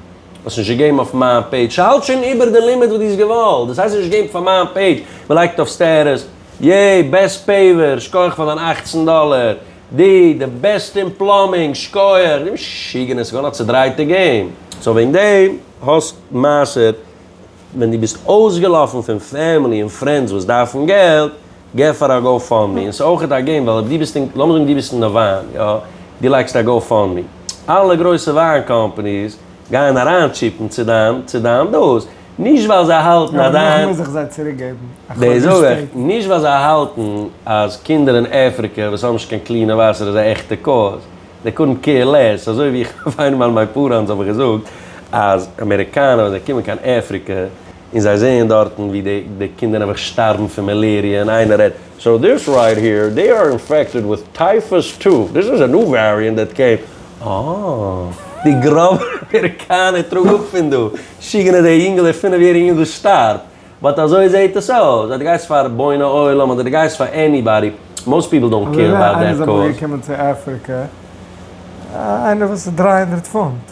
האסט נישט געגעבן אויף מיין פעידזש, ס'האלט שוין איבער די לימיט וואס דו האסט געוואלט, דאס הייסט נישט געבן פאר מיין פעידזש, מ'לייגט אויף סטעטוס, יעי בעסט פעיווער, שכח פאר דיין אַכצן דאלער, די די בעסט אין פלאמינג, שכח, די משוגענער, ס'געווארן א צעדרייטע געים. סאו וועגן דעם האסט מעשר, ווען דו ביסט אויסגעלאפן פון פעמילי און פרענדס וואס דארפן געלט, גיב פאר א גאו פאנד מי, און ס'איז אויכעט א געים ווייל אויב דו ביסט אין, לאמיר זאגן דו ביסט אין די וויין, יא, דו לייגסט א גאו פאנד מי, אלע גרויסע וויין קאמפאניס גייען אריין טשיפן צו דיין, צו דיין דאס, נישט ווייל זיי האלטן אז דיין, יא אבער דאך מוז איך זיי צוריק געבן א חודש שפעטער. דאס זאג איך, נישט ווייל זיי האלטן אז קינדער אין אפריקע וואס האבן נישט קיין קלינע וואסער איז א עכטע קאוז, זיי קאנט קעיר לעס, אזוי ווי איך האב איינמאל מיין פאראנס האב איך געזאגט אז אמעריקאנע ווען זיי קומען קיין אפריקע און זיי זעען דארטן ווי די די קינדער נעבעך שטארבן פון מעלעריע און איינער רעדט סאו דיס רייט העיר דעי אר אינפעקטעד וויט טייפוס טו דיס איז א ניו וועריענט דעט קעם אה די גראבע אמעריקאנער טראג אפ פון דא שיגענער דער יונגעלע פינף יעריגע יונגעל שטארבט באט אזוי זעהט עס אויס אז די גייסט פאר בוני עולם אדער די גייסט פאר עניבאדי מאסט פיפל דאנט קעיר אבאוט דעט קאז. אויב איינער איז אבער געקומען צו אפריקע איינער וואס איז דרײַ הונדערט פונט.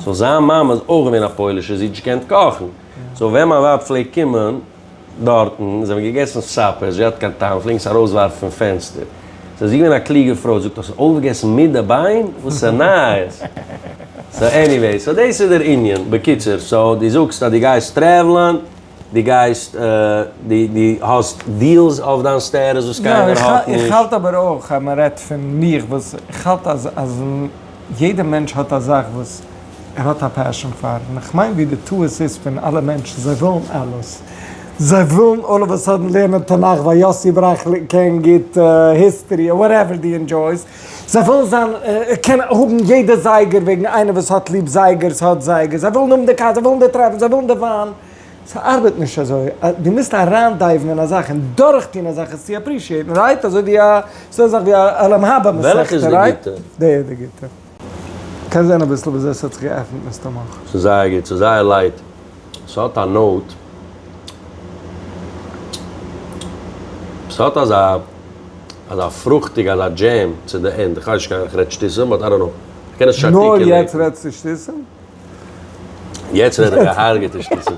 סאו זיין מאמע איז אויך געווען א פוילישע זי האט נישט געקענט קאכן, סאו ווען מיין ווייב פלעגט קומען דארטן זיי האבן געגעסן סאפער, זי האט קיין טעם פלעגן עס ארויסווארפן פון פענסטער, סאו זי איז געווען א קלוגע פרוי, זאגט האסט עס אויפגעגעסן מיט די ביין? וואסע נייעס? סאו עניוועי, סאו דאס איז דער ענין בקיצור, סאו די זאגסט אז די גייסט טרעוולען. די גייסט די די האסט דיעלס אויף דיין סטערס וואס קיינער האט נישט. איך האלט אבער אויך אז מען רעדט פון מיך וואס איך האלט אז אז יעדע מענטש האט א זאך וואס ער האט א פעשען פאר און איך מיין ווי די טעות איז פון אלע מענטשן זיי ווילן אלעס זיי ווילן אלל אוו א סאדען לערנען תנך ווייל יאסי בראך קען גוט היסטערי אוואטעווער די ענדזשויס זיי ווילן זיין, קענען האבן יעדע זייגער וועגן איינער וואס האט ליב זייגערס האט זייגערס, זיי ווילן האבן די קאר, זיי ווילן די טרעפל, זיי ווילן די וויין. ס'ארבעט נישט אזוי. דו מוזט אריינדייוון אין א זאך און דורכטון א זאך עס צו עפרישיעטן, רייט? אזוי ווי א, ס'דא א זאך ווי א עולם הבא מסכתא, רייט? וועלכע איז די גוטע? די איז די גוטע. קענסט זען אביסל וויאזוי עס האט זיך געעפנט מסתמא. ס'איז זייער גוט, ס'איז זייער לייט. ס'האט א נאוט. ס'האט אזא אזא פרוכטיג אזא דזשעם צו די ענד. כ'ווייס נישט קיין איך רעד שטותים באט איי דאנט נאו. מ'קען עס טשארטיקען לעבן. נאר יעצט רעדסטו שטותים? יעצט רעד איך געהארגעטע שטותים.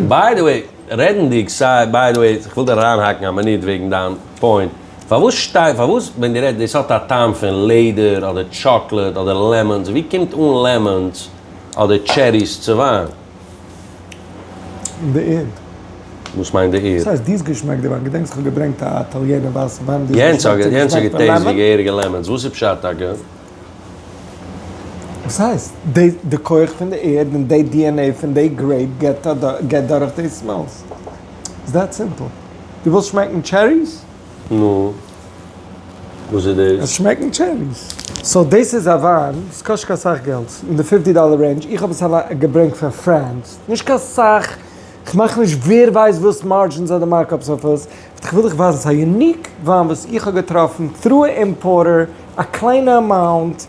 ביי די וועי, רעדנדיג סיי ביי די וועי, כ'וויל דיר אריינהאקן א מינוט וועגן דיין פוינט. פארוואס שטייט פארוואס ווען די רעדט דאס האט א טעם פון לעדער אדער טשאקלעד אדער לעמאנס ווי קומט אן לעמאנס אדער טשעריס צו וויין? אין די ערד. וואס מיינט די ערד? וואס הייסט די'ס געשמעקט די וויין? געדענקסט איך האב געברענגט א איטאליענע ווייסע וויין די'ס געשמעקט די יענץ האט געטעיסט ווי געהעריגע לעמאנס וואס איז פשט טאקע? וואס הייסט? די די כח פון די ערד און די DNA פון די גרעיפ געט דורך די סמעלס. איטס דעט סימפל. דו ווילסט שמעקן טשעריס? נו, וואס איז דאס? עס שמעקן טשעריס. סאו דאס איז א וויין, עס קאסט נישט קיין סאך געלט, אין די פופטי דאלער רעינדזש, איך האב עס אליין געברענגט פון פרענס, נישט קיין סאך, איך מאך נישט ווער ווייסט וואס מארדזשינס אדער מארקאפס אויף עס, באט איך וויל דיך ווייזן, ס'איז א יוניק וויין וואס איך האב געטראפן טרו אימפארטער, א קליינע אמאונט.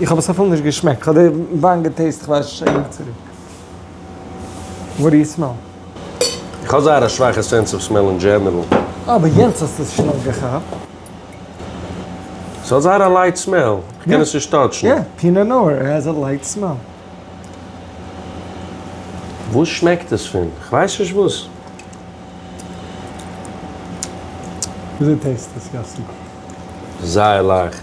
איך האב עס אפילו נישט געשמעקט, איך האב די וויין געטעיסט כ'ווייס נישט צו ענק צוריק. וואט דו יו סמעל? איך האב זייער א שוואכע סענס אוו סמעל אין דזשענערל. אה, ביי יענץ האסטו עס שנעל געכאפט. ס'האט זייער א לייט סמעל, כ'קען עס נישט טאטשן. יא, פינא נאר העז א לייט סמעל. וואס שמעקט עס פון? כ'ווייס נישט וואס. וויאזוי טעיסט עס יאסי? זייער לייכט.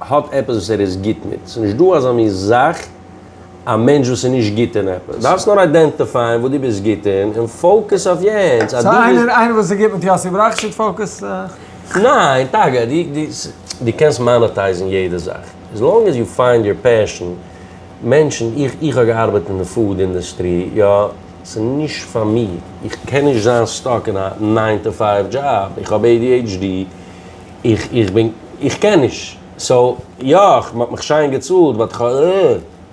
האט עפעס וואס ער איז גוט מיט, ס'איז נישט דא אזא מין זאך א מענטש וואס איז נישט גוט אין עפעס, דארפסט נאר איידענטיפייען וואס דו ביסט גוט אין און פאוקעס אויף יענץ, אז דו ביסט. סא איינער וואס איז גוט מיט יאסי בראך שוט פאוקעס אויף. ניין, טאקע דו קענסט מאנעטייזן יעדע זאך, עס לאנג עז יו פיינד יור פעשן, מענטשן, איך איך האב געארבעט אין די פוד אינדעסטרי, יא, ס'איז נישט פאר מיר, איך קען נישט זיין סטאק אין א ניין טו פייוו דזשאב, איך האב adhd, איך איך בין איך קען נישט סאו יא מ'האט מיך שיין געצאלט באט כ'הא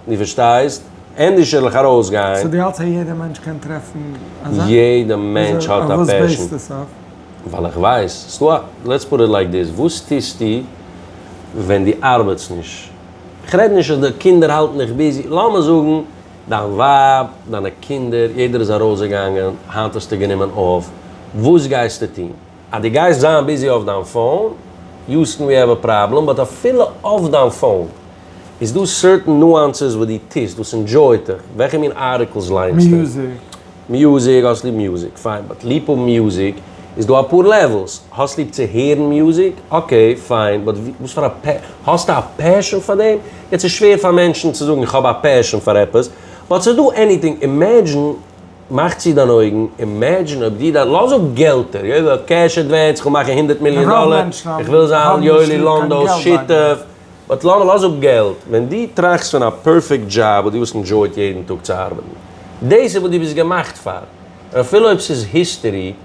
דו פארשטייסט ענדערש וועל איך ארויסגיין. סאו דו האלטסט אז יעדע מענטש קען טרעפן אזא? יעדע מענטש האט א פעשן. אויף וואס בעיסט עס אויף? ווייל איך ווייס ס'דא א, לעטס פוט איט לייק דיס, וואס טוסטו ווען דו ארבעטסט נישט? כ'רעד נישט אז די קינדער האלטן דיך ביזי, לאמיר זאגן דיין ווייב, דיינע קינדער, יעדער איז ארויסגעגאנגען, היינט האסטו גענומען אויף, וואס גייסטו טון? אז דו גייסט זיין ביזי אויף דיין פאון, יוסטן ווי העוו א פראבלעם, באט אפילו אויף דיין פאון איז דא סערטען נואנסעס וואס דו טוסט וואס אינדזשויט דיך, וועלכע מין ארטיקלס ליינסטו? מיוזיק. מיוזיק, האסט ליב מיוזיק, פיין, באט ליב האבן מיוזיק איז דא אפאר לעוועלס, האסט ליב צו הערן מיוזיק, אקעי, פיין, באט וואס פאר א פע. האסטו א פעשען פאר דעם? יעצט איז שווער פאר מענטשן צו זאגן איך האב א פעשען פאר עפעס, באט ס'איז דא עניטינג, אימעדזשין. מאך צו דיין אויגן, אימעדזשין אויב דו דארפסט, לאז אפ געלטער, יואלי האט קעש עדווענס, איך וויל מאכן הונדערט מיליאן דאלער, איך וויל זיין יואלי לאנדאו'ס שותף, באט לאז אפ געלט, ווען דו טראכסט פון א פערפעקט דזשאב וואס דו וואלסט ענדזשויט יעדן טאג צו ארבעטן, דאס איז וואס דו ביסט געמאכט פאר, און אפילו אויב ס'איז היסטערי,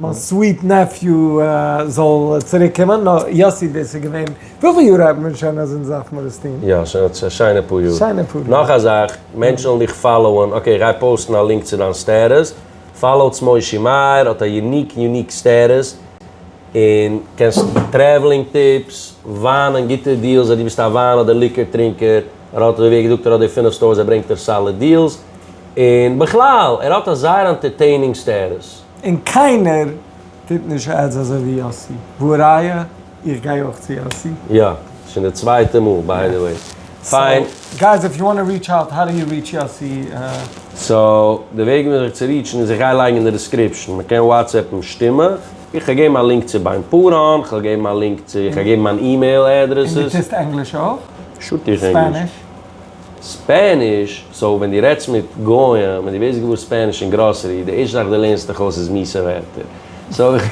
מיין סוויט נעפיו זאל צוריק קומען, נאר יאסי דאס איז געווען, וויפיל יאר האט מען שוין אז אונז דארף מיר עס טוהן? יא שוין א שיינע פאר יאר. שיינע פאר יאר. נאך א זאך, מענטשן וועלן דיך פאלאוען, אקעי גיי פאוסטן א לינק צו דיין סטעטוס, פאלאוטס מושי מאיר, האט א יוניק יוניק סטעטוס, און קענסט טרעוולינג טיפס, וויינען גוטע דיעלס אז דו ביסט א וויין אדער ליקער טרינקער, ער האט ווי ער געזאגט ער האט די פֿינף סטארס ער ברענגט דיר סאליד דיעלס, און בכלל ער האט א זייער אנטערטעינינג סטעטוס. און קיינער טוט נישט עדס אזוי ווי יאסי, והא ראיה איך גיי אויך צו יאסי. יא, ס'איז שוין די צווייטע מאל ביי די וועי. פיין. סאו גייס איף יו וואנט טו ריטש אוט, האו דו יו ריטש יאסי? סאו די וועג וויאזוי זיך צו ריטשן איז איך גיי לייגן אין די דיסקריפשן, מ'קען וואטסעפן שטימע, איך וועל געבן א לינק צו ביים פאראן, כ'וועל געבן א לינק צו, כ'וועל געבן מיין אימעיל עדרעסס. און דו טוסט ענגליש אויך? שו ט איך ענגליש. ספעניש? ספעניש, סאו ווען דו רעדסט מיט גוים און דו ווערסט געוואר ספעניש אין גראסערי, די ערשטע זאך דו לערנסט דיך אויס איז מיסע ווערטער. סאו איך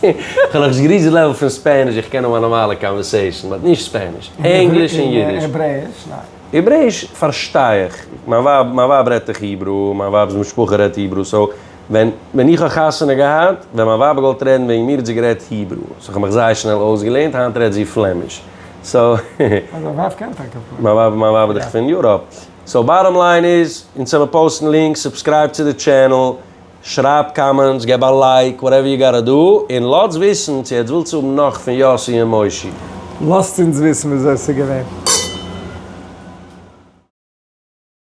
האב נאך נישט געריעטשט די לעוועל פון ספעניש, איך קען האבן א נארמאלע קאנווערסעישאן, באט נישט ספעניש. ענגליש און אידיש. העברעיש ניין. העברעיש פארשטיי איך, מיין ווייב רעדט איך היברו, מיין ווייב'ס משפחה רעדט היברו, סאו. ווען ווען איך האב חתונה געהאט, ווען מיין ווייב האט געוואלט רעדן וועגן מיר האט זי גערעדט היברו, סאו איך האב מיך זייער שנעל אויסגעלערנט, היינט רעדט זי פלעמיש, סאו. אז דיין ווייב קען טאקע פלעמיש. מיין ווייב מיין ווייב איז דאך פון יוראפ. סאו באטאם ליין איז, אונז העמיר פאוסטן לינקס, סובסקרייב צו די טשענעל, שרייב קאמענטס, געב א לייק, וואטעווער יו גאטא דא, און לאטס וויסן צו עטס ווילטס האבן נאך פון יאסי און מושי. לאזט אונז וויסן וויאזוי ס'איז געווען.